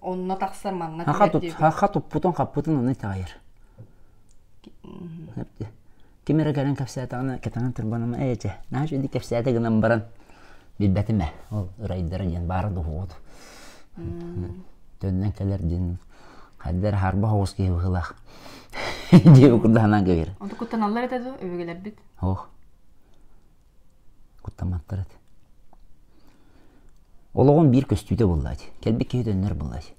Онно тахсар манна Хаха туп хаха туппутун хаппытын оны таайыр. Ким эрэ кэлэн кэпсээтэҕинэ кэтэнэн турбаныма эйэчэ. Нааш үди кэпсээте гынан баран билбэтим ээ ол ырайдара диэн баара дуһугут. Төннөн кэлэр диэн хаддер харба хоҕус киһи быһылаах. Диэби курдаханан кэгэр. Онто куттаналлар этэ дуу, өбүгэлэрбит? Ох. куттамматтар эт олоҕун биир көстүүтэ буллаать кэлбит киһи төннөр буллаать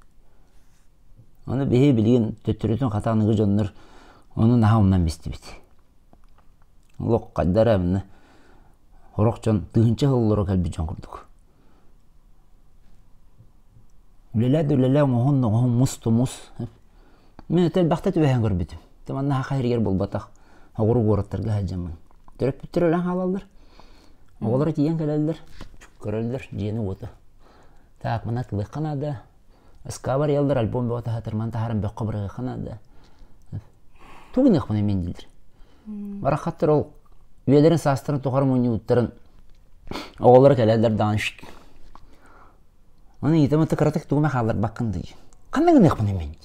аны биһи билигин төттөрүтүн хата аныгы дьоннор ону наһаа умнан бистибит олох хайдара аны сорох дьон тыһыынча сыллара кэлбит дьон курдук Үлэлээ да үлэлээ, оҥоһун да оҥоһун, мус да мус. Мин өтө элбэхтэ түбэһэн көрбүтүм. Ити манна саха иһигэр буолбатах. Оҕуруо буораттарга сылдьаммын. Төрөппүттэр өлөн хаалаллар. Оҕолоро тиийэн кэлэллэр. Көрөллөр дьиэни-уоты. Так, мына тылыахха наада. Ыскаабар ыалдар альбом бөҕө таһатарман таһааран бөххө бырыһыаххына да тугу гыныахпыный мин дииллэр бараххаттар ол үйэлэрин саастарын тухары мунньууттарын оҕолоро кэлэллэр даҕаны аны иитэ мытты кыратык тугума хаалларбаккын дии ханна гыныахпыный мин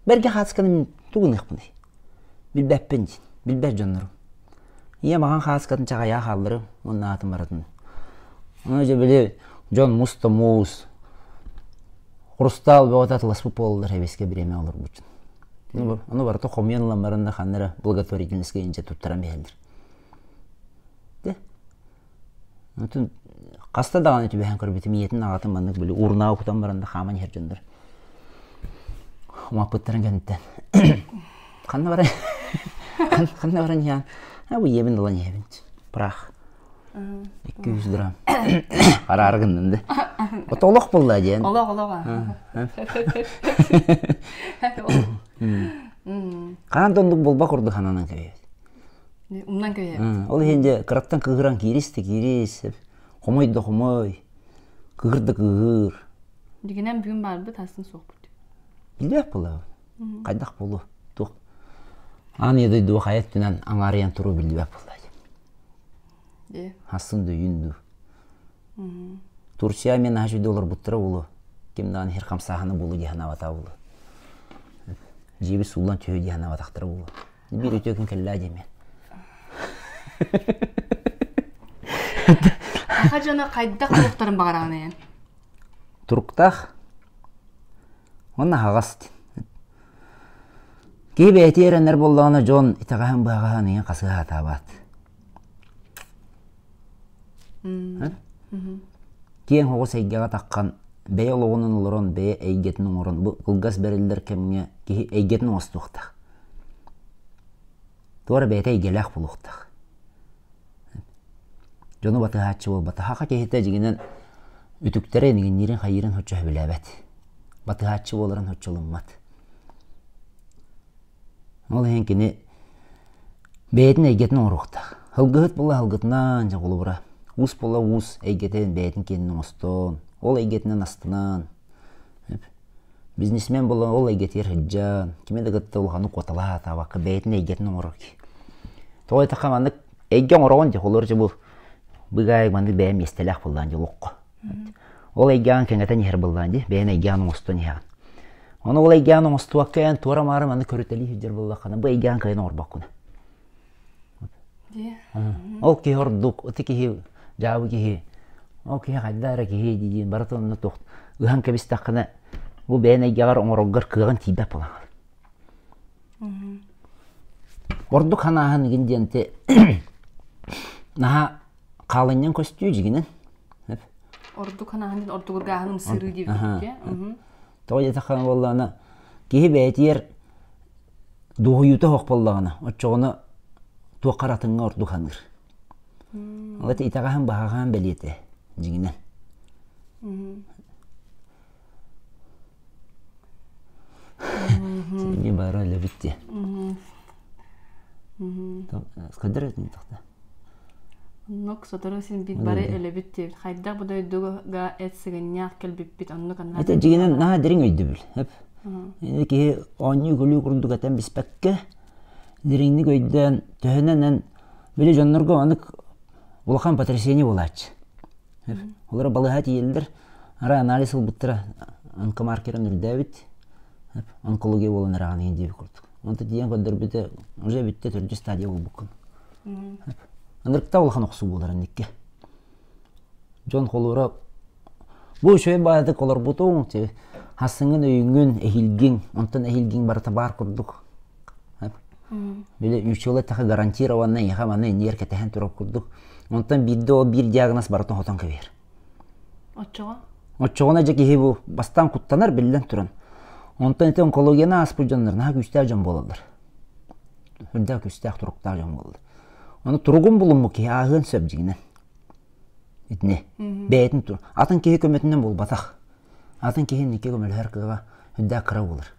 бэргэ хаацканы тугу гыныахпыный Билбэппин диин, билбэт дьоннорум. Ийэм аҕаҥ хааскатын чаҕыйаах аалларым уонна аатын баратын. Аны дьэ били дьон мус да муус, хрустал бөҕөтө атыласпыт буолаллар һэбиэскэ бириэмэ олорбутун. Аны барыта хомуйан ылан баран да ханна эрэ благотворительноска индьэ туттаран биһэллэр. Дэ Атын хаста даҕаны түбэһэн көрбүтүм ийэтин аҕатын маннык били уурунааҕы кутан баран да хааман иһэр дьоннор умаппыттарын кэнниттэн ханна баран ханна баран иһэҕин а бу ийэбин ылан иһэбин прах икки жүз грамм хараары гынным да ото олох буолла диэн олох олох хаһан да оннук буолбат курдук сананан кэбиһэбит Умнан кэйэ. Ол иһин дьэ кыраттан кыыһыран киирис да киирис, хомой да хомой, кыыһыр да кыыһыр. Дигинэн бүгүн барбыт асан суохпут. Билиэх була. Хайдах болу? Тух. Аны едай дуу хайат түнен аңарыян туру билбеп була. Э. Хасын дөйүн ду. Турция мен аш доллар буттыра болу. Ким дан хер хамсаханы болу диханавата болу. Жиби суллан түйө диханаватактыра болу. Биир үтүө күн кэллээ диэмээн. Саха дьоно хайдах туруктарын баҕараҕын эйэн? Туруктаах. Уонна аһаҕас дин. Киһи бэйэтэ эрэнэр буоллаҕына дьон итэҕэһин быһаҕаһын ийэн хасыһаатаабаат. киэҥ оҕус эйгэҕэ таххан бэйэ олоҕунан олорон бэйэ эйгэтин оҥорон бу кылгас бэриллэр кэмҥэ киһи эйгэтин оҥостуохтаах туора бэйэтэ эйгэлээх буолуохтаах дьону батыһааччы буолбат саха киһитэ дьиҥинэн үтүктэрэ инигинниирин хайыырын соччо сөбүлээбэт батыһааччы буоларын соччолуммат ол иһин кини бэйэтин эйгэтин оҥоруохтаах алгыһыт буола алгытынан дьоҕулура уус буола уус эйгэтин бэйэтин киэнин оҥостоон ол эйгэтинэн астынан бизнесмен буола ол эйгэтигэр сылдьан кими да кытта улаханнык уоталаатаабакка бэйэтин эйгэтин оҥорор тоҕо диэтэххэ маннык эйгэ оҥороҕун дьоҕулур дьобу быгаай маннык бэйэм миэстэлээх буоллаан дьолоххо Ол эйгэҕин кэҥэтэн иһэр быллаан дии, бэйэҥ эйгэҕин оҥостон иһэҕин. Ону ол эйгэҕин оҥостубакка эн туора маары маннык көрүтэлии сылдьар буоллаххына, бу эйгэҕин кыайан оҥорбоккун. Ол киһи ордук, ити киһи, дьаабы киһи, ол киһи хайда эрэ киһи дии барыта онно туох ыһан кэбистэххинэ, бу бэйэн эйгэҕэр оҥороргор кыаҕын тиийбэт буолаҕын. Ордук санааһын игин диэн те наһаа хаалынньаҥ көстүү дьигинэн ордук санаһан иһин ордук ыргааһын ымсыырыы диэбиккэ тоҕо диэтэххэ буоллаҕына киһи бэйэтигэр дуоһуйуута суох буоллаҕына оччоҕуна туох харатыҥҥа ордук саныыр ол итэҕэһин баһаҕаһын бэлиэтэ дьиҥинэн синьи баара өлөбүт дии скайдар этин тахта оннук сотору син бит бары өлөбүт диэбит хайдах бу дойдуга эт сыгынньаах кэлбиппит оннук анаа это дигинен наһаа дириҥ өйдөбүл өп ини киһи оонньуу көлүү курдук этэн биспэккэ дириҥник өйдөөн төһөнөн эн били дьоннорго онук улахан потрясение буолааччы Олору балыһа тиийэллэр. Арай анализ ылбыттара онкомаркерын үрдээбит. Онкология буолан эрэҕин иһин диэбит курдук. Онто тиийэн көрдөрбүтэ уже бүттэ төрдүс стадия буолбуккун. Ынырыкта улахан охсуу буолар инникке. Дьон холура бу үчүгэй баайдык олорбутуҥ, хассыҥҥын өйүҥҥүн, эһилгиҥ, онтон эһилгиҥ барыта баар курдук Били учуолаттахы гарантированно эйиэхэ манна иннигэр кэтэһэн турар курдук. Онтон биирдэ ол биир диагноз барыта оһотон кэбиһэр. Оччоҕо? Оччоҕуна дьэ киһи бу бастаан куттанар биллэн туран. Онтон ити онкологияны ааспыт дьоннор наһаа күүстээх дьон буолаллар. Үрдээх күүстээх туруктаах дьон буолаллар. Ону туругун булуммут киһи ааһыан сөп дьиҥинэн. Итини. Бэйэтин тур. Атын киһи көмөтүнэн буолбатах. Атын киһи инники көмөлөһөр кыаҕа үрдээх кыра буолар.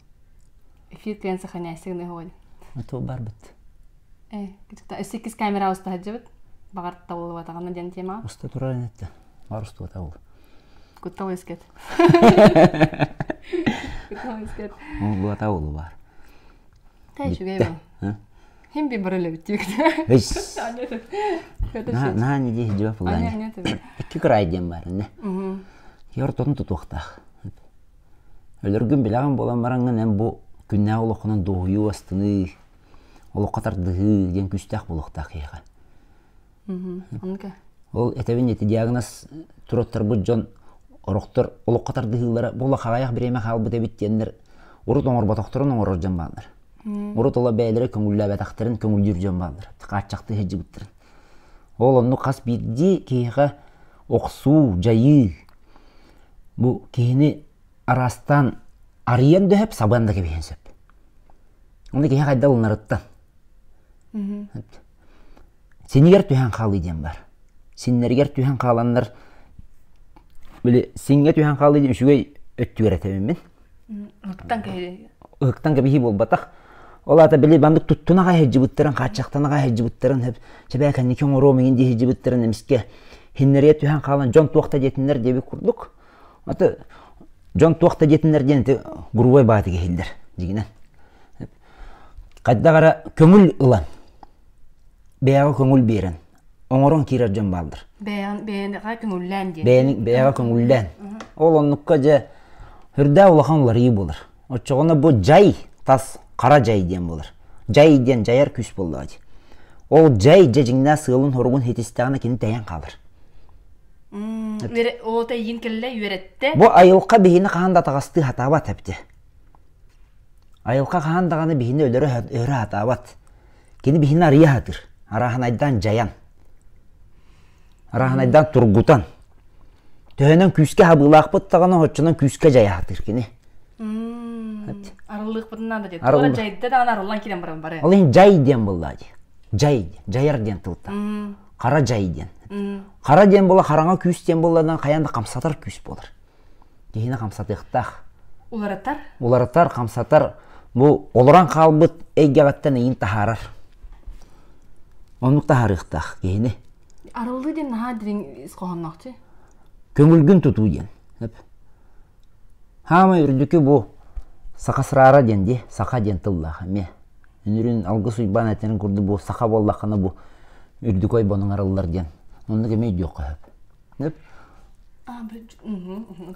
эфир кыйан сохраняйсыгын ыһыгын оту барбыт э өссө иккис камера уста сылдьыбыт баҕар табыллыбатаҕына диэн тема уста турар инэтте арустубата ол куттал өскөт куттал өскөт булбата ол бар хайшугай бу хим би барылыбыт тиикте на не дии дива пулан икки край диэн бар не Йортон тутуохтаах. Өлөргүн билэҕин буолан бараҥҥын эн бу күннээх олоххунан дуоһуйуу астыныы, олоххо тардыһыы диэн күүстээх буолуохтаах киһиэхэ. Ол этэбин ити диагноз туруттарбыт дьон орохтор олоххо тардыһыылара буола хаҕайах бириэмэ хаалбыт эбит диэннэр урут оҥорботохторун оҥорор дьон бааллар. Урут ола бэйэлэрэ көҥүллээбэтэхтэрин көҥүллүүр дьон бааллар. Хааччахтыы сылдьыбыттарын. Ол оннук хас биирдии киһиэхэ охсуу, дьайыы. Бу киһини араастаан арыйан дөһөп, сабыан да кэбиһиэн сөп. Ону киһи хайдах уларыттан. Синигэр түһэн хаалыы диэн бар. Синнэригэр түһэн хааланнар, били сиҥҥэ түһэн хаалыы диэн үчүгэй өттүгэр этэбин мин. Ытыктан кэһиэ. Ытыктан кэбиһии буолбатах. Ол аата били маннык туттунаҕа иһдьибиттэрин, хааччахтанаҕа иһдьибиттэрин чэбээ кэнники оҥоруом иҥин дии иһдьибиттэрин эмискэ иһиннэрийэ түһэн хаалан дьон туох да диэтиннэр диэбит курдук. Аты дьон туох да диэтиннэр диэн ити грубой баатык иһиллэр дьигинэн. Хайдах эрэ көҥүл ылан, бэйэҕэ көҥүл биэрэн оҥорон киирэр дьон бааллар. Бэйэҕин бэйэҕэ көҥүллээн диэн. Бэйэни бэйэҕэ көҥүллээн. Ол оннукка дьэ үрдээ улахан уларыйыы буолар. Оччоҕуна бу дьай тас хара дьай диэн буолар. Дьай диэн дьайар күүс буоллаҕа дии. Ол дьай дьэ дьиҥнээх сыалын-соругун хитистэҕинэ кини тэйэн хаалар. Ол тэйиин кэллэ үөрэтте. Бу айылҕа биһини хаһан да атаҕастыы сатаабат эбитэ. Айылҕа хаһан даҕаны биһини өлөрө сатаабат. Кини биһини арыйа сатыыр. Арааһынайдаан дьайан. Арааһынайдаан тургутан. Төһөнөн күүскэ хабыылаахпыт даҕаны, оччонон күүскэ дьайа сатыыр кини. Арыллыахпытынан да диэн. Дьайда даҕаны арыллан киирэн баран бары. Ол иһин дьай диэн буллаа дии. Дьай диэн. Дьайар диэн тылта. Хара дьай диэн. Хара диэн була хараҥа күүс диэн буолларынан хайаан да хамсатар күүс буолар. киһини хамсатыахтаах. Уларытар? Уларытар, хамсатар. Бу олорон хаалбыт эйгэҕиттэн эйин таһаарар. Оннук таһаарыахтаах киһини. Арыллыы диэн наһаа дириҥ ис хоһоонноохчу. Көҥүлгүн тутуу диэн. Хаамай үрдүкү бу саха сраара диэн дии, саха диэн тыллаах эмиэ. Үнүрүн алгыс Уйбаан этэрин курдук бу саха буоллаххына бу үрдүкү ойбонуҥ арыллар диэн. Оннук эмиэ диох хөп.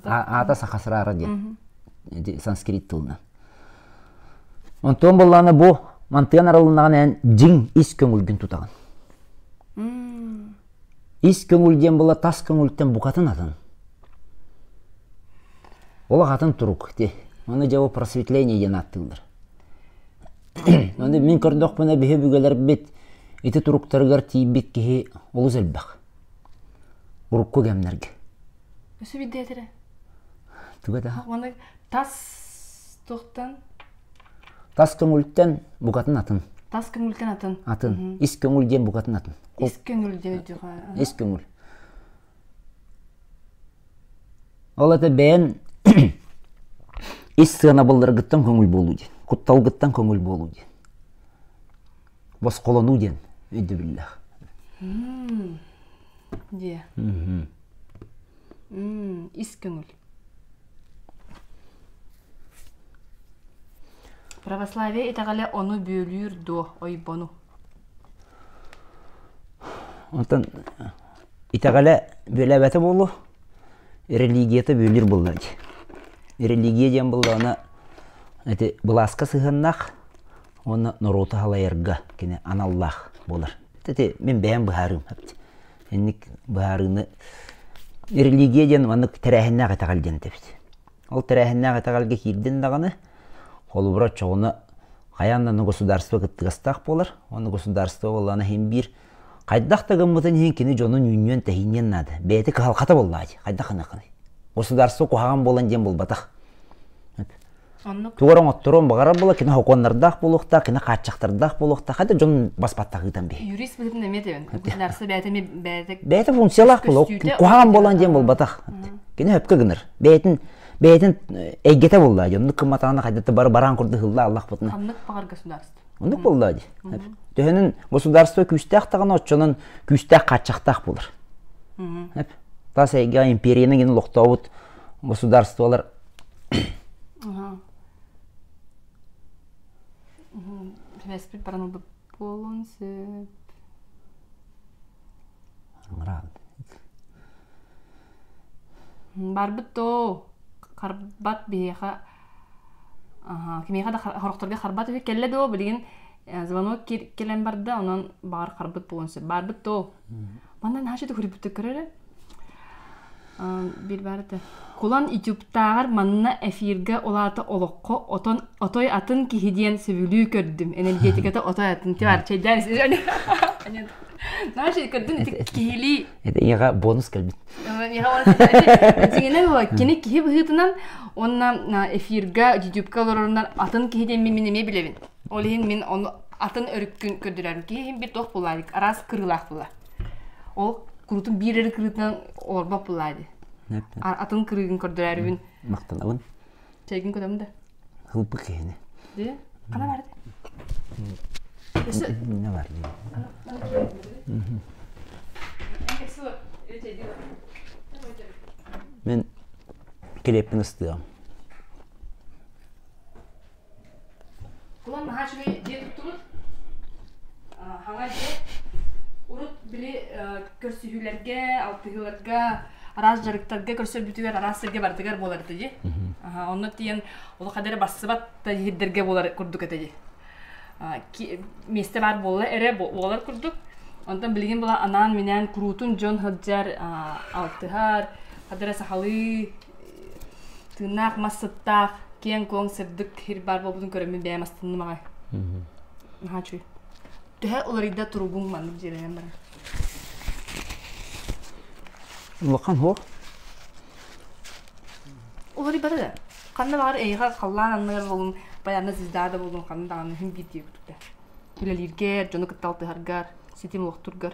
аата саха сыраара диэн санскрит тылынан онтон боллаана бу мантыан аралыннаҕын эн дьиҥ ис көҥүлгүн тутаҕын ис көҥүл диэн була тас көҥүлтэн букатын атын ол атын турук ти аны дьэ просветление диэн ааттыыллар аны мин көрдөхпүнэ биһи бүгэлэрбит ити туруктарыгар тиийбит киһи олус элбэх урукку кэмнэргэ өссө биирдээтэрэ түгэ да маны тас туохтан тас көҥүлтэн букатын атын тас көҥүлтэн атын атын ис көҥүл диэн букатын атын ис көҥүл диэдиҕа ис көҥүл ол это бэйэн ис сыанабылларгыттан көҥүл буолуу диэн кутталгыттан көҥүл буолуу диэн босхолонуу диэн өйдөбүллээх дьиэ ис көҥүл православие итэҕэлэ ону бүөлүүр дуо ойбону онтон итэҕэлэ бүөлээбэтэ буолуо религията бүөлүүр булла дии религия диэн буоллаҕына ити былааска сыһыаннаах уонна норуоту халайарга кини аналлаах буолар. Ити мин бэйэм быһаарыым эпти. Инник быһаарыыны религия диэн маннык тэрээһиннээх этэҕэл диэн этэбит. Ол тэрээһиннээх этэҕэлгэ киирдин даҕаны, холобура оччоҕуна хайаан да государство кыттыгастаах буолар. Уонна государство буоллаҕына иһин биир Хайдах да гыммытын иһин кини дьонун үүннүөн тэһиниэн наада. Бэйэтэ кыһалҕата буоллаҕа Хайдах гыныаххыный? Государство куһаҕан буолан диэн буолбатах. Тугар оҥотторуон баҕарар була кино хокуоннардаах буолуохтаах, кино хааччахтардаах буолуохтаах, хотя дьон баспатта ыытан биһи. Юрист быһытын эмиэ тэбэн. Государство бэйэтэ бэйэтэ бэйэтэ функциялаах буолуо. Куһаҕан буолан диэн буолбатах. Кино өпкө гынар. Бэйэтин бэйэтин эйгэтэ буолла дьон кыматаана хайдата бар бараан курдук ылла Аллах бутун. Ханнык баҕар государство Оннук буолла дии. Төһөнүн государство күүстээх даҕаны оччонон күүстээх хааччахтаах булар. Эп. Тас эйгэ империяны гин лохтообут государстволар Республик баран буолун сөп. Рад. барбыт доо харбат биһиэхэ кимиэхэ да сорохторго харбат үһү кэллэ доо билигин звонок кэлэн барда онон баҕар харбыт буолуон сөп барбыт доо манна наһаа үчүгэй көрө эрэ биир баарыта кулан ютубтааҕар манна эфиргэ улаата олоххо отон отой атын киһи диэн сөбүлүү көрдүм энергетиката отой атын типа чэйдээн наһаа көрдүм ити киһилии Это иһэ бонус кэлбит. Дегенер кини киһи быһыытынан уонна эфирга, ютубка олорорунан атын киһи диэн мин эмиэ билэбин. Ол иһин мин ону атын өрүккүн көрдөрөрүм. Киһи иһин бир туох буллаадик, арас кырылаах була. Ол курутун биир eri кырытынан олорбот буллаади. Атын кырыгын көрдөрөрүбүн. Мақтанабын. Чэгин көтөм да. Хылпы киһини. Ди. Кана бар ди. Өсө. Мине бар ди. Мен келеппин ыстыам. Кулам наһаа үчүгэй дьиэ туттубут. Хаҥа дьиэ. Урут били көрсүһүүлэргэ, алтыһыыларга, араас дьарыктарга, көрсөрбүтүгэр, араас сиргэ барытыгар буолар этэ дии. Онно тиийэн олох адары барсыбат да иһирдэргэ буолар курдук этэ дии. Миэстэ баар буола эрэ буолар курдук. Онтон билигин была анаан-минээн куруутун дьон сылдьар, алтыһар, адары сахалыы тыыннаах мас сыттаах киэҥ-куоҥ сырдык сир баар буолбутун көрөммүн бэйэм астынным аҕай наһаа үчүгэй төһө уларыйда туругуҥ маннык дьиэлэнэн баран улахан һуох уларыйбата да ханна баҕар эйиэхэ халлаан анныгар болун байанна звезда болун ханна даҕаны иһин биирдии көрдө үлэлииргэр дьону кытта алтыһаргар ситим олохтургар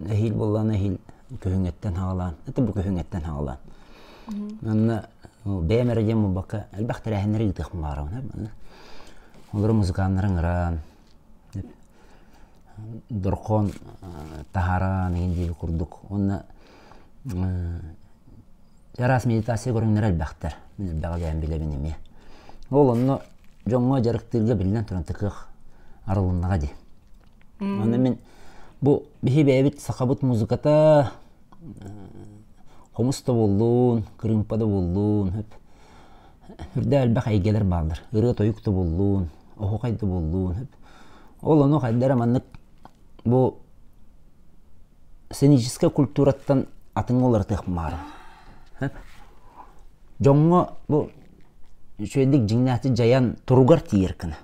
Эһиил буоллаҕына эһиил көһүҥэттэн хаалаан, это бу көһүҥэттэн хаалаан. Манна бэйэм эрэ диэн буолбакка, элбэх тэрээһиннэри ыытыахпын баҕарабын. Манна олору музыканнары ыҥыран, дорхон таһааран игин дииби курдук. Уонна араас медитация көрүҥнэрэ элбэхтэр. Мин элбэҕи бэйэм билэбин эмиэ. Ол онно дьоҥҥо дьарыктыырга биллэн туран такыах арылыннаҕа дии. Аны мин Бу биһи бэйэбит сахабыт музыката хомус да буоллун, кырыымпа да буоллун, үрдээх элбэх эйгэлэр бааллар. Ырыа-тойук да буоллун, оһуохай да буоллун. Ол ону хайдара маннык бу сценическай культураттан атыҥҥа уларытыах баарын. Дьоҥҥо бу үчүгэйдик дьиҥнээхтик дьайан туругар тиийэр кына.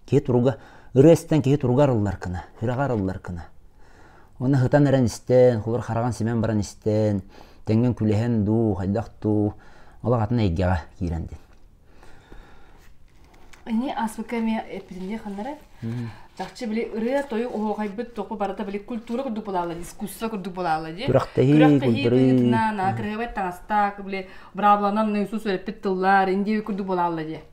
Киһи туруга, ырыа истэн киһи туруга арылларкына, сүрэҕэ арылларкына. Уонна һытан эрэн истэн, холобур хараҕын симэн баран истэн, тэҥҥин күлэһэн дуу, хайдах дуу, олох атын эйгэҕэ киирэн дин. Ини ааспыкка эмиэ эппитинде ханнара. Чахчы били ырыа тойук оһоохайбыт току барыта били культура курдук буолала, дискуссия курдук буолала дии. Күрэхтэһии, культура. кырыабай таҥастаак, били брабланан наисус өреппит тыллар, индиев курдук буолала дии.